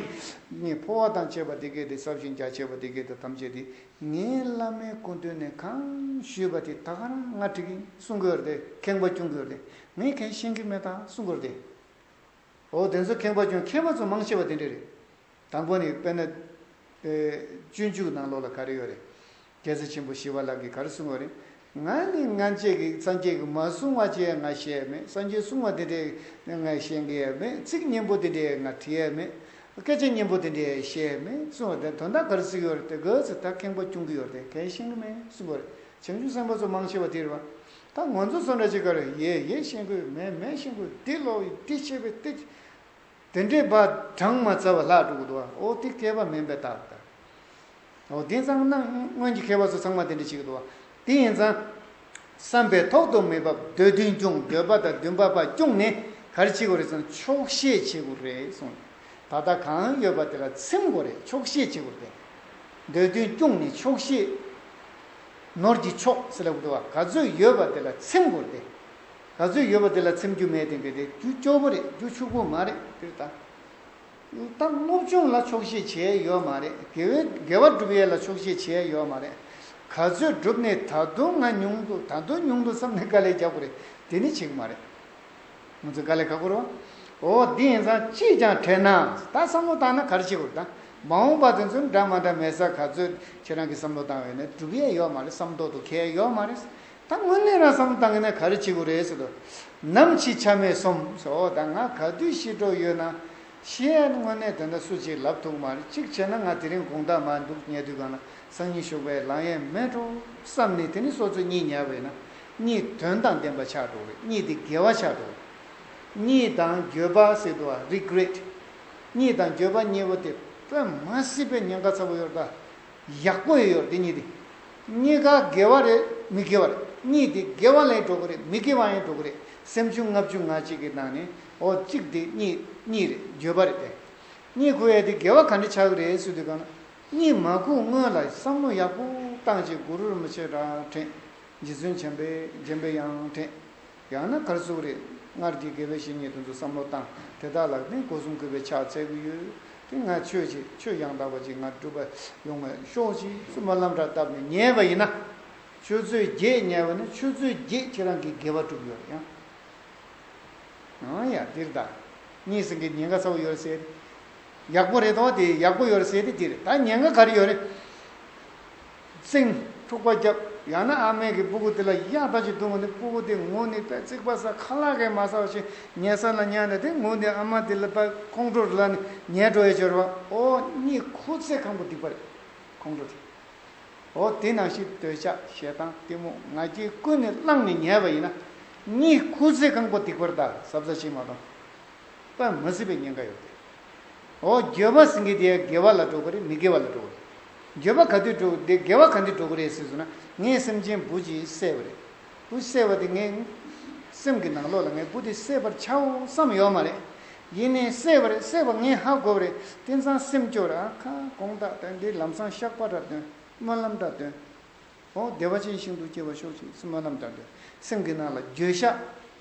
Speaker 1: ཉིད་འཕོ་བ་དང་བཅས་པ་དེ་གའི་དེ་ཟབ་ཞིང་རྒྱ་ཆེ་བ་དེ་གའི་དེ་ཐམས་ཅད་དེ་ངའི་བླ་མའི་སྐུ་མདུན་ནས་གང་ཞུས་པ་དེ་ད་ག་རང་ང་ཁྲིད་གིན་གསུང་གི་རེད་ཁེངས་པ་སྐྱུང་གི་རེད་ངས་མཁས་ཤིང་གི་མེད་དང་གསུང་གི་རེད། ཨོ་དེ་ཚོ་ཁེངས་པ་སྐྱུང་མཁས་པ་ཚོ་མང་ཆེ་བ་དེ་འདྲ་རེད། དང་པོ་ནི་དཔེར་ན། སྤྱོད་འཇུག་ནང་ལོགས་ལ་ག་རེ་ཡོད་རེད། རྒྱལ་སྲས་ཆེན་པོ་ཞི་བ་ལགས་ཀྱིས་ག་རེ་གསུངས་ཡོད་རེད། ང་ནི་ང་བཅས་ཀྱི་སངས་རྒྱས་ཀྱིས་མ་གསུངས་བ་ཅི་ཡང་ང་ཤེས་ཡས་མེད་སངས་རྒྱས་གསུངས་བ་དེ་འདྲས་ང་ཤེས་ཀྱི་ཡས་མེད་ཚིག་སྙན་པོ་དེ་འདྲས་ང་བྲིས་ཡས་མེད། སྐད་ཆ་སྙན་པོ་དེ་འདྲས་བཤད་ཡས་མེད་གསུངས་བ་དེ་དོན་དག་ག་རེ་གཟིགས་ཡོད་རེད་དེ་གོས་ཚེ་ད་ཁེངས་པ་སྐྱུང་གི་ཡོད་རེད་གས་ཤེས་ཀྱི་མེད་གསུངས་གོ་རེད་བྱང་ཆུབ་སེམས་དཔའ་ཚོ་མང་ཆེ་བ་དེ་རེད་བ། ད་ངོ་ཚོ་སོ་འདྲ་ཅིག་ག་རེ་ཡས་ཡས་ཤེས་ཀྱི་ཡོད་མེད་མེད་ཤེས་ཀྱི་ཡོད་དེ་ལོགས་ཡོད་དེ་ཤེས་པའི་ལྟས་ཅི། དེ་འདྲའི་བ་གྲངས་མ་བཙལ་བ་ལྷག་འགྲོ་གི་འདུག་ཨོ་དེ་མཁས་པ་མིན་པའི་རྟགས་དང། ཨོ་དེ་ཚང་ན་སྔོན་གྱི་མཁས་པ་ཚོ་ཚང་མ་དེ་འདྲ་བྱེད་ཀྱི་འདུག་བ་དེ་ཡིན་ཙང། བསམ་པའི་ཐོག་ཏུ་མི་བབ་འདོད་བདུན་སྐྱོང་འདོད་པ་དང་བདུན་པ་པ་སྐྱོང་ནི་གར་བྱེད་དགོས་རེད་ཙང་ཆོག་བཤད་བྱེད་དགོས་རེད་གསུངས་ནས་ད་ལྟ་གང་ཡོད་པ་དེ་ལ་ཚིམ་དགོས་རེད་ཆོག་བཤད་བྱེད་དགོས་རེད་དེ་འདོད་བདུན་སྐྱོང་ནི་ཆོག་བཤད་ནོར་གྱི་ཆོག་སེ་ལ་དགོས་རེད་བ་ག་ཚོད་ཡོད་པ་དེ་ལ་ཚིམ་དགོས་རེད་དེ། ག་ཚོད་ཡོད་པ་དེ་ལ་ཚེམ་རྒྱུ་མེད་དེ་འདི་རེད་རྒྱུ་སྐྱོ་པོ་རེད་རྒྱུ་ཕྱུག་པོ་མ་རེད་འདིར་ད་ལྟ་སློབ་སྦྱོང་ལ་ཆོག་ཤེས་བྱས་ཡོད་མ་རེད་དགེ་བའི་དགེ་བ་སྒྲུབ་ཡས་ལ་ཆོག་ཤེས་བྱས་ཡོད་མ་རེད་ག་ཚོད་སྒྲུབ་ནས་ད་དུང་ང་ཉུང་དུ་ད་དུང་ཉུང་དུ་བསམ་ནས་དཀའ་ལས་རྒྱག་པོ་རེད་དེ་ནི་བྱེད་གི་མ་རེད་ང་ཚོས་དཀའ་ལས་ཁག་པོ་རོ་ཨོ་འདི་ཡིན་ཙང་ཅིས་ཀྱང་དྲན་ན་ད་བསམ་བློ་བཏང་ན་ག་རེ་བྱེད་དགོས་རེད་ད་མ་འོངས་པ་དེ་ཚོ་འདྲ་མ་འདྲ་མེད་ས་ག་ཚོད་ཁྱེད་རང་གིས་བསམ་བློ་བཏང་བས་ནས་སྒྲུབ་ཡས་ཡོད་མ་རེད་བསམ་ཐོག་ཏུ་ཁེལ་ཡོད་མ་རེད། ད་དངོས་གནས་རང་བསམ་བཏང་གི་ན་ག་རེ་བྱེད་དགོས་རེད་ཟེར་དུ། ནམ་ཕྱི་ཆ་མེད་སོམ་ཟེར་འོ་ད་ང་ག་དུས་ཤི་འགྲོ་ཡོད་ན། ཤི་ཨེ་དངོས་གནས་དེ་འདྲ་སུ་ཅིག་ལབ་ཐུག་མ་རེད་གཅིག་བྱས་ན་ང་དེ་རིང་དགོངས་དག་མ་འདུག་ཉལ་དུས་གང་ན་སང་ཉིན་བཞུགས་པའི་ལང་ཡས་མལ་འགྲོ་བསམ་ནས་དེ་ནི་སོ་ཚོད་གཉིས་ཉལ་བས་ན་གཉིད་དོན་དང་ལྡན་པ་ཆགས་འགྲོ་གི་གཉིད་དེ་དགེ་བ་ཆགས་འགྲོ་གི། གཉིད་དང་འགྱོད་པ་ཟེར་དུ་ཨ regret། གཉིད་དང་འགྱོད་པ་གཉིས་པོ་དེ་དཔེ་མ་སྲིད་པའི་ཉེན་ཁ་ཚ་པོ་ཡོད་ད། ཡག་པོ་ཡོད་དེ་གཉིས་དེ། གཉིས་ཀ་དགེ་བ་རེད་མི་དགེ་བ་རེད་གཉིས་དེ་དགེ་བ་ལས་འགྲོ་གི་རེད་མི་དགེ་བ་ཡང་འགྲོ་གི་རེད་སེམས་བྱུང་ལྔ་བཅུ་ང་གཅིག་གི་ནང་ནས་འོ་གཅིག་དེ་གཉིས་གཉིས་རེད་བརྗོད་པ་རེད་དེ་གཉིས་ཁུ་ཡས་དེ་དགེ་བ་ག་འདྲ་ཆགས་གི་རེད་སུ་དེ་གང་གཉིས་མ་ཁུག་སྔོན་ལ་བསམ་བློ་ཡག་པོ་བཏང་བྱས་གུ་རུར་མི་ཆེ་དྲག་དྲན་རྗེ་བཙུན་བྱམས་པས་བརྒྱན་པའི་ཡང་དྲན། ཡང་ན་གར་གཟུགས་རེ་སྔར་གྱི་དགེ་བའི་བཤེས་གཉེན་དུ་འདུག་བསམ་བློ་བཏང་དེ་དག་ལག་ལྡན་སྒོ་སྲུང་དགོས་པའི་ཕྱག་འཚལ་གྱི་ཡོད། དེ་སྔ་ཆོས་ཆེ་ཆོས་ཡང་དག་པ་ཅིག་ང་སྒྲུབ་པ་ཡོང་བའི་ཤོག་ཅིག། སུ་མ་ལམ་བྲག་བཏབ་ནས་ཉལ་བ་ཡིན་ན། ཆོས་མཛོད་བརྒྱད་ཉལ་བ་ནི་ཆོས་མཛོད་བརྒྱད་ཁྱེད་རང་གིས་དགེ་བ་བསྒྲུབས་ཡོད་རེད་ཡང། ཡང་འདིར་ད་གཉིས་སེང་གེའི་ཉེན་ཁ་ཚ་བོ་ཡོད་རེད། ཡག་པོ་རེད་དོ་དེ་ཡག་པོ་ཡོད་རེད་དེ་འདིར་ད་ཉེན་ཁ་ག་རེ་ཡོད་རེད། བཙིང། ཐུག་པ་བརྒྱབ། ཡང་ན་ཨ་མའི་གི་སྤུ་གུ་དེ་ལ་གཡག་ལྟ་ཅིག་བརྡུང་བ་ནི་སྤུ་གུ་དེ་ངུ་ནི་པད་ཙིག་པ་ཟ་ཁ་ལག་གིས་མ་ཟ་བ་བཞིན་ཉལ་ས་ན་ཉལ་ནས་དེ་ངུ་ནི་ཨ་མ་དེ་ལ་པད་ཁོང་ཁྲོ་རུ་ལ་ནི་ཉལ་འགྲོ་ཡི་སྦྱོར་བ་ཨོ་གཉིས་ཁུ་ཚེ་ཁང་བུ་སྡིག་པ་རེད། ཁོང་ཁྲོ་དེ། ཨོ་དེ་ནང་བཞིན་འདོད་ཆགས་ཞེ་སྡང་གཏི་མུག་ང་རྒྱལ་ཀུན་ནས་བསླངས་ནས་ཉལ་བ་ཡིན་ན། གཉིས་ཁུ་ཚེ་ཁང་བུ་སྡིག་པར་ད་གཟབ་གཟབ་བྱེད་མ་མཐོང། པད་མ་སྲིད་པའི་ཉེན་ཁ་ཡོད་དེ། འོ། འགྱོད་པ་སེང་གེ་དེ་དགེ་བ་ལ་འགྲོ་གི་རེད་མི་དགེ་བ་ལ་འགྲོ་གི་རེད། འགྱོད་པ་ག་དུས་འགྲོ་དེ་དགེ་བ་ག་འདི་འགྲོ་གི་རེད་ཟེར་ཟུར་ན་ངའི་སེམས་ཅན་བུ་གཅིག་བསད་པ་རེད། བུ་བསད་པ་དེ་ངའི་སེམས་ཀྱི་ནང་ལོག་ལ་ངའི་བུ་དེ་བསད་པར་བྱའོ་བསམ་ཡོད་མ་རེད། ཡིན་ནའི་བསད་པ་རེད་བསད་པ་ངས་ཧ་གོ་བ་རེད་དེ་ཚང་སེམས་སྐྱོ་ར་ཨ་ཁ་དགོངས་དག་དོན་འདི་ལམ་སང་བཤགས་པ་འདྲ་དོན་སྨོན་ལམ་འདྲ་དོན་འོ་བདེ་བ་ཅན་ཞིང་དུ་སྐྱེ་བ་ཤོག་ཅིག་སྨོན་ལམ་འདྲ་དོན་སེམས་ཀྱི་ནང་ལ་འགྱོད་བཤགས།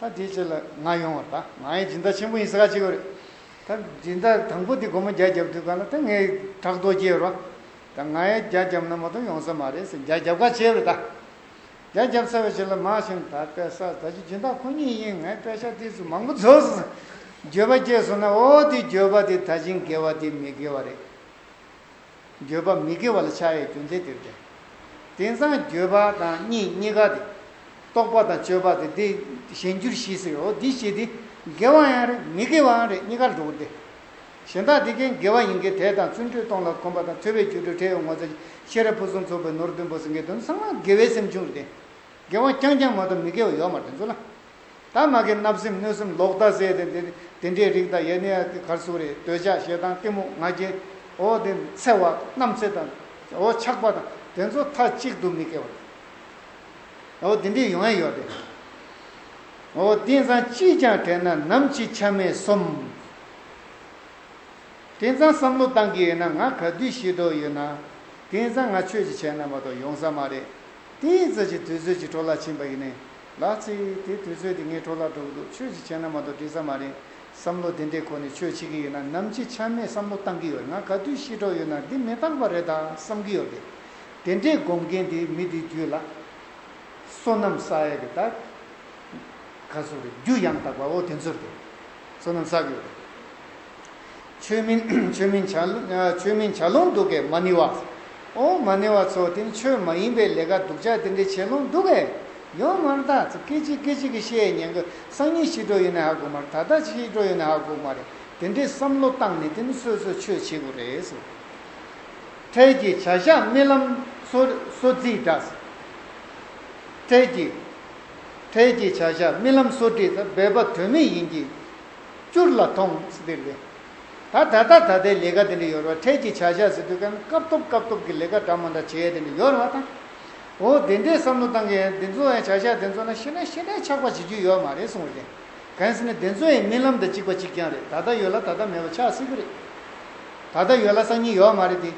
Speaker 1: ད་དེའི་ཆེད་ལ་ང་ཡོང་བར་ད་ང་ཡི་སྦྱིན་བདག་ཆེན་པོ་ཡིན་ཟེར་ག་ཅིག་རེད། ད་སྦྱིན་བདག་དང་པོ་དེ་སྒོར་མོ་བརྒྱ་བརྒྱབ་དུས་ག་ལ་ད་ངའི་བྲག་རྡོ་སྐྱེས་རོགས། ད་ང་ཡི་བརྒྱ་བརྒྱབ་ན་མ་གཏོགས་ཡོང་ས་མ་རེད་ཟེར་བརྒྱ་བརྒྱབ་ག་ཅིག་རེད་ད། བརྒྱ་བརྒྱབ་ཚར་བའི་ཕྱིར་ལ་མ་ཞུམ་ད་དཔལ་ས་ད་ཀྱི་སྦྱིན་བདག་ཁོ་གཉིས་ཡིན་ངས་དཔེ་ཆ་དེ་ཚོ་མང་པོ་བཟོས་སོང་ཟེར་འགྱོད་པ་སྐྱེས་སོང་ན་ཨོ་དེ་འགྱོད་པ་དེ་ད་ཅིང་དགེ་བ་དེ་མི་དགེ་བ་རེད། འགྱོད་པ་མི་དགེ་བ་ལ་ཆགས་ཡའི་རྒྱུ་མཚན་དེར་ཐལ། དེང་སང་འགྱོད་པ་དང་གཉིད་གཉིས་ཀ་དེ། རྟོག་པ་དང་དཔྱོད་པ་དེ་འདི་གཞན་འགྱུར་གཞི་ཟེར་རོ། འདི་གཞི་དེ་དགེ་བ་ཡང་རེད་མི་དགེ་བའང་རེད་གཉིས་ཀར་འགྲོ་དགོས་ཏེ། གཞན་དག་དེ་ཀའི་དགེ་བ་ཡིན་གྱི་དད་དང་བརྩོན་འགྲུས་སྟོང་ལ་གོམས་པ་དང་ཐོས་པའི་རྒྱུ་དྲུག་ཁྲེལ་ཡོད་ངོ་ཚ་གི་ཤེས་རབ་ཕུན་སུམ་ཚོགས་པའི་ནོར་བདུན་པོ་སེང་གེའི་དོན་བཟང་ལ་དགེ་བའི་སེམས་བྱུང་རེད་དེ། དགེ་བ་རྐྱང་རྐྱང་མ་གཏོགས་མི་དགེ་བ་ཡོད་མ་རེད་འཛོ་ལ། དག་ང་གི་བརྣབ་སེམས་གནོད་སེམས་ལོག་ལྟ་ཟད་དེ། དེ་འདྲའི་རིགས་དང་ཡེ་ནས་གར་སོང་རེད། འདོད་ཆགས་ཞེ་སྡང་གཏི་མུག་ང་རྒྱལ། འོ་དེ་འཚེ་བ་རྣམ་འཚེ་དང། འོ་ཆགས་པ་དང་དེ་ཚོ་མཐའ་གཅིག་ཏུ་མི་སྐྱེ་བ་དང། འོ་དེ་འདྲའི་ཡོང་ཡ་ཡོད་རེད། འོ་དེང་སང་ཅིས་ཀྱང་དྲན་ན་ནམ་ཕྱི་ཆ་མེད་གསུམ། དེང་སང་བསམ་བློ་བཏང་གི་ཡོད་ན་ང་ག་དུས་ཤི་དོགས་ཡོད་ན། དེང་སང་ང་ཆོས་ཀྱི་བྱས་ན་མ་གཏོགས་ཡོང་ས་མ་རེད། དེའི་ཚོད་ཀྱི་དུས་ཚོད་ཀྱི་འཕྲོ་བརླག་ཕྱིན་པ་ཡིན་ནའི། ལགས། ཚེ་ཡིས་དེ་དུས་ཚོད་དེ་ངའི་འཕྲོ་བརླག་འགྲོ་གི་འདུག་ཆོས་ཀྱི་བྱས་ན་མ་གཏོགས་འགྲིག་ས་མ་རེད། བསམ་བློ་དེ་འདྲའི་གོ་ནས་ཆོས་བྱེད་ཀྱི་ཡོད་ན་ནམ་འཆི་ཆ་མེད་བསམ་བློ་གཏང་གི་ཡོད་ང་ག་དུས་ཤི་གྲོགས་ཡོད་ན་འདི་མི་རྟག་པ་རེད་ད་བསམ་གི་ཡོད་རེད། དེ་འདྲའི་སྒོམ་མཁན་དེ་མི་དེ་རྒྱུད་ལ། བསོད་ནམས་བསགས་ཡག་གི་རྟགས། ག་ཚོད་རེད་རྒྱུ་ཡང་དག་པ་འོ་དེ་ཚོ་རེད། བསོད་ནམས་བསགས་ཡོད་རེད། ཆོས་མིན་ཆོས་མིན་བྱ། ཆོས་མིན་བྱ་ལུང་སྡུག་གེ་མ་ནི་བ། ཨོ་མ་ནི་བ་ཚོ་དེ་ནི་ཆོས་མ་ཡིན་པའི་ལས་ཀ་སྡུག་ཅག་དེ་འདྲའི་བྱེད་ལུང་སྡུག་གེ། ཡོང་མར་ད་ཚོ་སྐད་ཅིག་སྐད་ཅིག་གི་བཤད་ཡས་ཉན་གི་སང་ཉིན་ཤི་འགྲོ་ཡོད་ནའི་ཧ་གོ་མ་རེད་ད་ལྟ་ཅིག་ཤི་འགྲོ་ཡོད་ནའི་ཧ་གོ་མ་རེད་དེ་འདྲའི་བསམ་བློ་བཏང་ནས་དེ་ནི་སོས་སོས་ཆོས་བྱེད་དགོས་རེད་ཟེར། འཕྲལ་གྱི་བྱ་བཞག་རྨི་ལམ་སོ་སོ་བརྫིས་འདྲ། འཕྲལ་གྱི། འཕྲལ་གྱི་བྱ་བཞག་རྨི་ལམ་སོ་བྲིས་འདི་འབད་པ་དོན་མེད་ཡིན་གྱི། བསྐྱུར་ལ་ཐོངས་ཟེར་དུས་ལས། ད་ད་ལྟ་ད་ལྟའི་ལས་ཀ་དེ་འདྲ་ཡོད་ར་འཕྲལ་གྱི་བྱ་བཞག་ཟེར་དུས་ཀན་སྐབས་ཐོབ་སྐབས་ཐོབ་ཀྱི་ལས་ཀ་འདྲ་མ་འདྲ་བྱས་དེ་འདྲ་ཡོད་ར་དང། འོ་དེ་འདྲའི་བསམ་བློ་བཏང་གི་དེ་ཚོ་ཡང་བྱ་བཞག་དེ་ཚོ་ན་ཤི་ན་ཤི་འདྲའི་ཆགས་པ་བྱེད་རྒྱུ་ཡོད་མ་རེད་གསུངས་བ་རེད། གན་ཟེར་ནས་དེ་ཚོ་ཡང་རྨི་ལམ་དང་གཅིག་པ་གཅིག་རྐྱང་རེད་ད་ལྟ་ཡོད་ལ་ད་ལྟ་མེད་པ་ཆགས་སྲིད་ཀྱི་རེད། ད་ལྟ་ཡོད་ལ་སང་ཉིན་ཡོད་མ་རེད་དེ།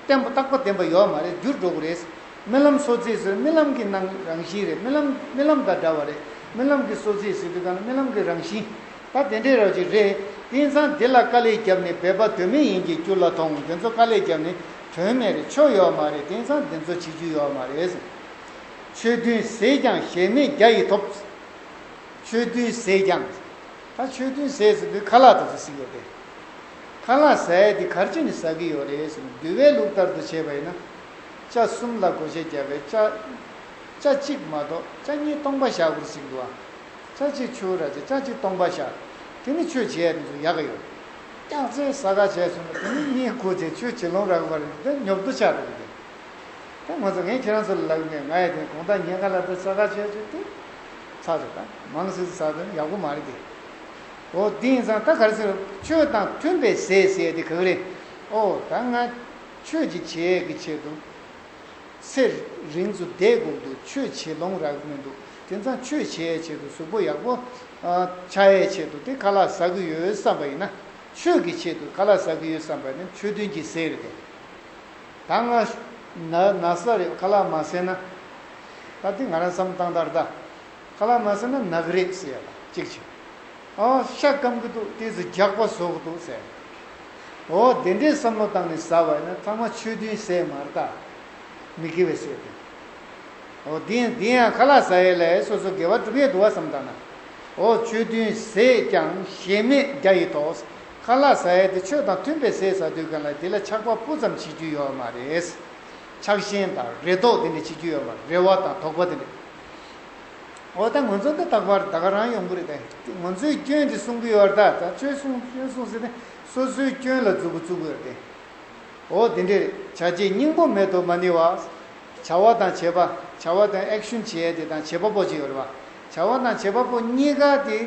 Speaker 1: བརྟན་པོ་རྟག་པ་བརྟན་པ་ཡོད་མ་རེད་འགྱུར་འགྲོ་གི་རེད། རྨི་ལམ་སོ་རྩིས་སུ་རྨི་ལམ་གྱི་ནང་རང་བཞིན་རེད་རྨི་ལམ་རྨི་ལམ་དང་འདྲ་བ་རེད་རྨི་ལམ་གྱི་སོ་རྩིས་སུ་དེ་དང་རྨི་ལམ་གྱི་རང་བཞིན་ད་དེ་འདྲའི་རོ་ཅིག་རེད་དེང་སང་དེ་ལ་དཀའ་ལས་བརྒྱབ་ནས་འབད་པ་དོན་མེད་ཡིན་གྱི་རྒྱུ་ལ་ཐོང་དེ་ཚོ་དཀའ་ལས་བརྒྱབ་ནས་དོན་མེད་རེད་ཆོ་ཡོད་མ་རེད་དེང་སང་དེ་ཚོ་བྱེད་རྒྱུ་ཡོད་མ་རེད། ཆོས་བདུན་ཟས་ཀྱང་གཞལ་མེད་རྒྱ་ཡིས་ཐོབ། ཆོས་བདུན་ཟས་ཀྱང། ད་ཆོས་བདུན་ཟས་སུ་དེ་ཁ་ལག་དེ་ཚོ་ཟིག་ཡོད་རེད། ཁ་ལག་ཟས་དེ་གར་ཅི་ནས་ཟ་གི་ཡོད་རེད། འདུལ་བའི་ལུགས་ལྟར་དུ་བྱས་པ་ཡིན་ན། བཅའ་གསུམ་ལ་བགོ་བྱས་བརྒྱ་པའི་བཅའ། བཅའ་གཅིག་མ་གཏོགས་བཅའ་གཉིས་སྟོང་པ་བཞག་བུར་ཟིག་འདུ་བ། བཅའ་གཅིག་ཆུ་བོ་ར་བྱས་བཅའ་གཅིག་སྟོང་པ་བཞག། དེ་ནི་ཆོས་བྱེད་ཡས་འདུ་ཡ་ག་ཡོད། སྐྱག་རྫས་ས་ག་བྱས་སོང་ལ་དེ་ནི་གཉིས་བགོ་བྱས་ཆོས་བྱེད་ལོང་ར་ག་བར་འདི་ཉོབ་བསྡུ་བྱ་རུ་གི། དེ་ང་ཚོ་ངས་ཁྱེད་རང་ཚོ་ལ་ལབ་ངེས་ང་ཡས་དེ་གོང་ཐག་ཉེ་ག་ལ་འདི་ས་ག་བྱས་ཆོས་དེ། ཚ་ཚ་ད་མང་སིད་ས་དོན་ཡག་པོ་མ་རེད་དེ། ཨོ་དེ་ཡིན་ཙང་ད་ག་རེ་ཟེར་རོ་ཆོས་དང་མཐུན་པའི་ཟས་ཟས་དེ་ག་ག་རེད། ཨོ་ད་ང། ཆོས་ཀྱི་བྱེད་ཡས་ཀྱི་ཆེད་དུ། ཚེ་རིང་དུ་བསྡད་དགོས་འདུག་ཆོས་བྱེད་ལོང་རག་མི་འདུག་དེ་མཚམས་ཆོས་བྱེད་ཡས་ཆེད་དུ་གཟུགས་པོ་ཡག་པོ་ཆགས་ཡས་ཆེད་དུ་དེ་ག་ལ་ཟ་གི་ཡོད་བསམ་པ་ཡིན་ན། ཆོས་ཀྱི་ཆེད་དུ་ག་ལ་ཟ་གི་ཡོད་བསམ་པ་ནི་ཆོས་མཐུན་གྱི་ཟེར་ཏེ། ད་ང་ན་ས་རེད་ག་ལ་མ་ཟེར་ན། ད་དེ་ང་རང་བསམ་སྟངས་ལྟར་ད་ག་ལ་མ་ཟེར་ན་ནག་རེད་ཟེར་ཡས་ལ་གཅིག་བྱས། ཨ། ཤ་སྐམ་གི་འདུག་དེ་ཚོ་རྒྱགས་པ་བཟོ་གི་འདུག་ཟེར། ཨོ། དེ་འདྲའི་བསམ་བློ་བཏང་ནས་ཟ་བ་ཡིན་ན་ཚང་མ་ཆོས་བདུན་ཟས་མ་རེད་དཱ། མི་དགེ་བའི་ཟས་དེ། ཨོ། དེ་ཡང་དེ་ཡང་ཁ་ལག་ཟ་ཡས་ལ་ཡས་སོ་སོ་དགེ་བ་སྒྲུབ་ཡས་འདུག་བ་བསམ་དང་ན། ཨོ། ཆོས་བདུན་ཟས་ཀྱང་གཞལ་མེད་རྒྱ་ཡི་དོགས། ཁ་ལག་ཟ་ཡས་དེ་ཆོས་དང་མཐུན་པའི་ཟས་ཟ་དུས་གང་ལ་དེ་ལ་ཆགས་པ་སྤུ་ཙམ་བྱེད་རྒྱུ་ཡོད་མ་རེད། ཆགས་ཞེན་དང་རེ་དོགས་དེ་འདྲ་བྱེད་རྒྱུ་ཡོད་མ་རེད་རེ་བ་དང་དོགས་པ་དེ་འདྲ། འོ་ད་ངོ་ཚོ་འདི་རྟག་པར་ད་ག་རང་ཡོང་གི་རེད་དེ་ངོ་ཚོའི་སྐྱོན་དེ་སྲུང་གི་ཡོད་རེད་ད་ད་ཆོས་སྲུང་སྐྱོན་སྲུང་ཟེར་ནས་སོ་སོའི་སྐྱོན་ལ་རྫུ་བུ་བཙུག་གི་རེད་དེ། འོ་དེ་འདྲས་རེད་བྱ་བྱེད་སྙིང་པོ་མེད་དོ་མ་ནི་བ། བྱ་བ་དང་བྱེད་པ་བྱ་བ་དང action བྱེད་དེ་དང་བྱེད་པ་པོ་ཅིག་ཡོད་རེད་བ། བྱ་བ་དང་བྱེད་པ་པོ་གཉིས་ཀ་དེ་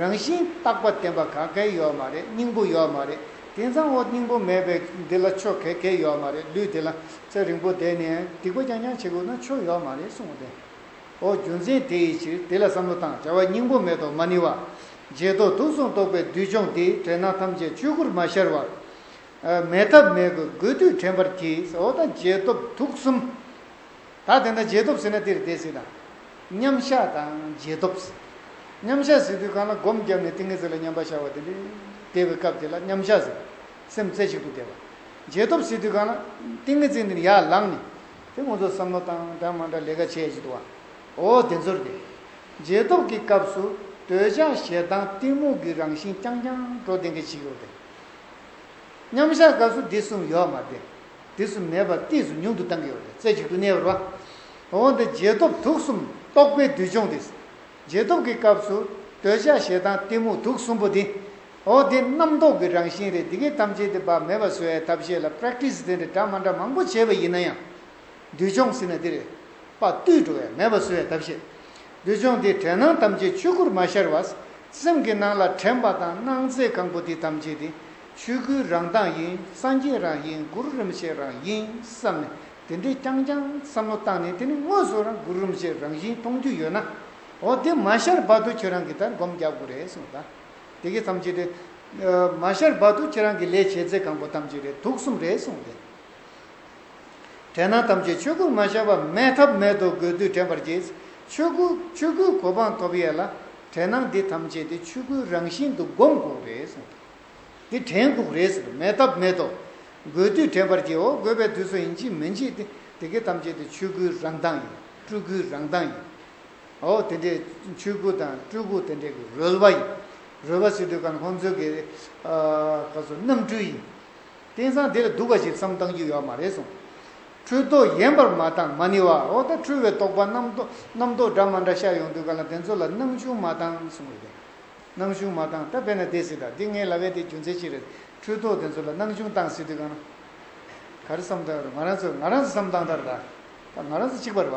Speaker 1: རང་བཞིན་རྟག་པ་བདེན་པ་ག་གེ་ཡོད་མ་རེད་སྙིང་པོ་ཡོད་མ་རེད་དེ་མཚང་འོ་སྙིང་པོ་མེད་པའི་འདི་ལ་ཆོས་ག་གེ་ཡོད་མ་རེད་ལུས་དེ་ལ་ཚེ་རིང་པོ་བསྡད་ནས་སྡིག་པ་རྐྱང་རྐྱང་བྱེད་དགོས་ན་ཆོས་ཡོད་མ་རེད་གསུང་གི་རེད། ཨོ་རྒྱུ་མཚན་དེ་ཡི་ཕྱིར་དེ་ལ་བསམ་བློ་དང་བྱ་བ་སྙིང་པོ་མེད་དོ་མ་ནི་བ། རྗེས་ཐོགས་དུག་གསུམ་རྟོག་པའི་བདུད་སྦྱོང་འདི་དྲན་སྣང་ཐམས་ཅད་ཆོས་སྐུར་མ་ཤར་བར། མེད་ཐབས་མེད་དགོས་དགོས་དུས་དྲན་པར་གྱིས་ཨོ་ད་རྗེས་ཐོབ་དུག་གསུམ། ད་དེ་འདྲ་རྗེས་ཐོབ་ཟིན་ན་འདིར་བསྡད་སྲིད་དང། མཉམ་གཞག་དང་རྗེས་ཐོབ། མཉམ་གཞག་ཟིན་དུས་གང་ལ་སྒོམ་བརྒྱབ་ནས་ཏིང་ངེ་འཛིན་ལ་མཉམ་པར་བཞག་པ་དེ་འདྲའི་བདེ་བའི་སྐབས་དེ་ལ་མཉམ་གཞག་ཟེར། སེམས་རྩེ་གཅིག་ཏུ་བསྡད་པ། རྗེས་ཐོབ་ཟིན་དུས་གང་ལ། ཏིང་ངེ་འཛིན་འདི་ནི་ཡར་ལངས་ནས། དེ་ཁོང་ཚོ་བསམ་བློ་བཏང་འདྲ་མ་འདྲ་ལས་ཀ་བྱས་ཅི་ཐུབ། འོ་དེ་ཚོར་དེ། རྗེས་ཐོབ་ཀྱི་སྐབས་སུ་འདོད་ཆགས་ཞེ་སྡང་གཏི་མུག་གི་རང་བཞིན་རྐྱང་རྐྱང་འགྲོ་བདེ་འགའ་ཞིག་ཡོད་དེ། མཉམ་བཞག་སྐབས་སུ་དེ་གསུམ་ཡོད་མ་བདེ། དེ་གསུམ་མེད་པར་གཏིས་སུ་ཉུང་དུ་བཏང་གི་ཡོད་དེ་རྩེ་གཅིག་ཏུ་གནས་པར་བ། འོ་འདི་རྗེས་ཐོབ་དུག་གསུམ་རྟོག་པའི་བསྡུས་སྦྱོང་དེ། རྗེས་ཐོབ་ཀྱི་སྐབས་སུ་འདོད་ཆགས་ཞེ་སྡང་གཏི་མུག་དུག་གསུམ་པོ་འདི། ཨོ་དེ་རྣམ་རྟོག་གི་རང་བཞིན་རེད་འདི་གས་ཐམས་ཅད་དེ་བག་མེད་པ་བཟོ་བའི་ཐབས་ཤེས་ལ Practice དེ་འདྲ་འདྲ་མ་འདྲ་མང་པོ་བྱས་པ་ཡིན་ན་ཡང། འདུལ་སྦྱོང་ཟེར་ན་དེ་རེད། པ་བཏུས་འགྲོ་བས་མེད་པ་བཟོ་བའི་ཐབས་ཤེས། འདུལ་སྦྱོང་དེ་དྲན་སྣང་ཐམས་ཅད་ཆོས་སྐུར་མ་ཤར་བར། སེམས་ཀྱི་ནང་ལ་དྲན་པ་དང་སྣང་མཛད་གང་པོ་དེ་ཐམས་ཅད་དེ། ཆོས་སྐུའི་རང་གདངས་ཡིན་སངས་རྒྱས་རང་ཡིན་གུ་རུ་རིན་པོ་ཆེ་རང་ཡིན་བསམ་ནས་དེ་འདྲའི་རྐྱང་རྐྱང་བསམ་བློ་བཏང་ནས་དེ་ནི་དངོས་སུ་རང་གུ་རུ་རིན་པོ་ཆེ་རང་བཞིན་མཐོང་རྒྱུ་ཡོད་ན། ཨོ་དེ་མ་ཤར་བར་དུ་ཁྱོད་རང་གི་ལྟར་སྒོམ་རྒྱག་དགོས་རེད་གསུངས་པ་དང། དེ་གས་ཐམས་ཅད་རེད། མ་ཤར་བར་དུ་ཁྱེད་རང་གི་ལས་བྱེད་རྫས་གང་པོ་ཐམས་ཅད་རེད་དུག་གསུམ་རེད་གསུངས་ཏེ། དྲན་སྣང་ཐམས་ཅད་ཆོས་སྐུར་མ་ཤར་བར་མེད་ཐབས་མེད་དོ་དགོས་དུས་དྲན་པར་གྱིས། ཆོས་སྐུ་ཆོས་སྐུའི་གོ་འཕང་ཐོབ་ཡས་ལ། དྲན་སྣང་འདི་ཐམས་ཅད་དེ་ཆོས་སྐུའི་རང་བཞིན་དུ་སྒོམ་དགོས་རེད་གསུངས་ཏེ། འདི་དྲན་དགོས་རེད་ཟེར་མེད་ཐབས་མེད་དོ། དགོས་དུས་དྲན་པར་གྱིས་འོ་དགོས་པའི་དུས་སུ་ཡིན་གྱིས་མི་འཇིག་སྟེ་དེ་གས་ཐམས་ཅད་དེ་ཆོས་སྐུའི་རང་མདངས་ཡིན་སྤྲུལ་སྐུའི་རང་མདངས་ཡིན། འོ་དེ་འདྲའི་མཆོད་བཀུར་དང་སྤྲུལ་སྐུ་དེ་འདྲའི་གི་རོལ་བ་ཡིན། རོལ་བ་ཟེར་དུས་ཀ་ནི་ཁོང་ཚོའི་གི་ག་ཚོད་རྣམ་སྤྲུལ་ཡིན། དེང་སང་དེ་ལ་སྡུག་པ་ཞིག་བསམ་བཏང་རྒྱུ་ཡོད་མ་རེད་སོང། འཁྲུལ་རྟོག་ཡན་པར་མ་བཏང་མ་ནི་བ་འོ་ད་འཁྲུལ་བའི་རྟོག་པ་རྣམ་རྟོག་སྒྲ་མ་འདྲ་ཤར་ཡོང་དུས་ག་ལ་དེ་ཚོ་ལ་སྣང་གཞུང་མ་བཏང་སོང་རེད། སྣང་གཞུང་མ་བཏང་ད་བས་ན་དེ་སྲིད་ད་འདི་ངའི་ལ་བས་དེ་རྒྱུ་མཚན་ཅི་རེད་འཁྲུལ་རྟོག་དེ་ཚོ་ལ་སྣང་གཞུང་བཏང་སྲིད་དུས་ག་ན་ག་རེ་བསམ་བཏང་ཡོད་རེད་ང་རང་ཚོས་ང་རང་ཚོས་བསམ་བཏང་ད་རེད་ད་ང་རང་ཚོ་གཅིག་པ་རེད་བ་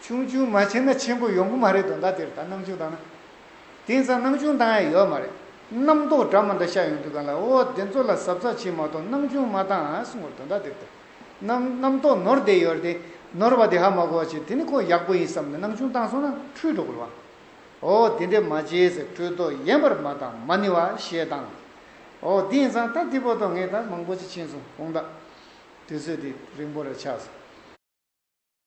Speaker 1: ཆུང་ཆུང་མ་བྱས་ན་ཆེན་པོ་ཡོང་གི་མ་རེད་དོ་ཟླ་དེར་ད་སྣང་ཆུང་བཏང་ན། དེང་སང་སྣང་ཆུང་བཏང་ཡ་ཡོད་མ་རེད། རྣམ་རྟོག་དྲ་མ་འདྲ་ཤ་ཡོང་དུས་གང་ལ་འོ་དེ་ཚོ་ལ་ཟབ་ཚགས་བྱེད་མ་གཏོགས་སྣང་ཆུང་མ་བཏང་ཨ་གསུང་བར་དོ་ཟླ་དེར་ད། རྣམ་རྟོག་ནོར་བསྡད་ཡོད་རེད་དེ། ནོར་བ་དེ་ཧ་མ་གོ་བ་བྱེད་དེ་ནི་ཁོ་ཡག་པོ་ཡིན་བསམ་ནས་སྣང་ཆུང་བཏང་སོང་ན་འཁྲུལ་འགྲོ་གི་རེད་བ། འོ་དེ་འདྲས་མ་བྱས་ཟེར་འཁྲུལ་རྟོག་ཡན་པར་མ་བཏང་མ་ནི་བ་ཞེས་བཏང། འོ་དེང་སང་ད་དེ་པོ་དོ་ངས་ད་མང་པོ་ཅི་ཕྱིན་སོང་གོང་ད། དུས་ཚོད་དེ་རིང་པོ་རེ་ཆགས་སོང།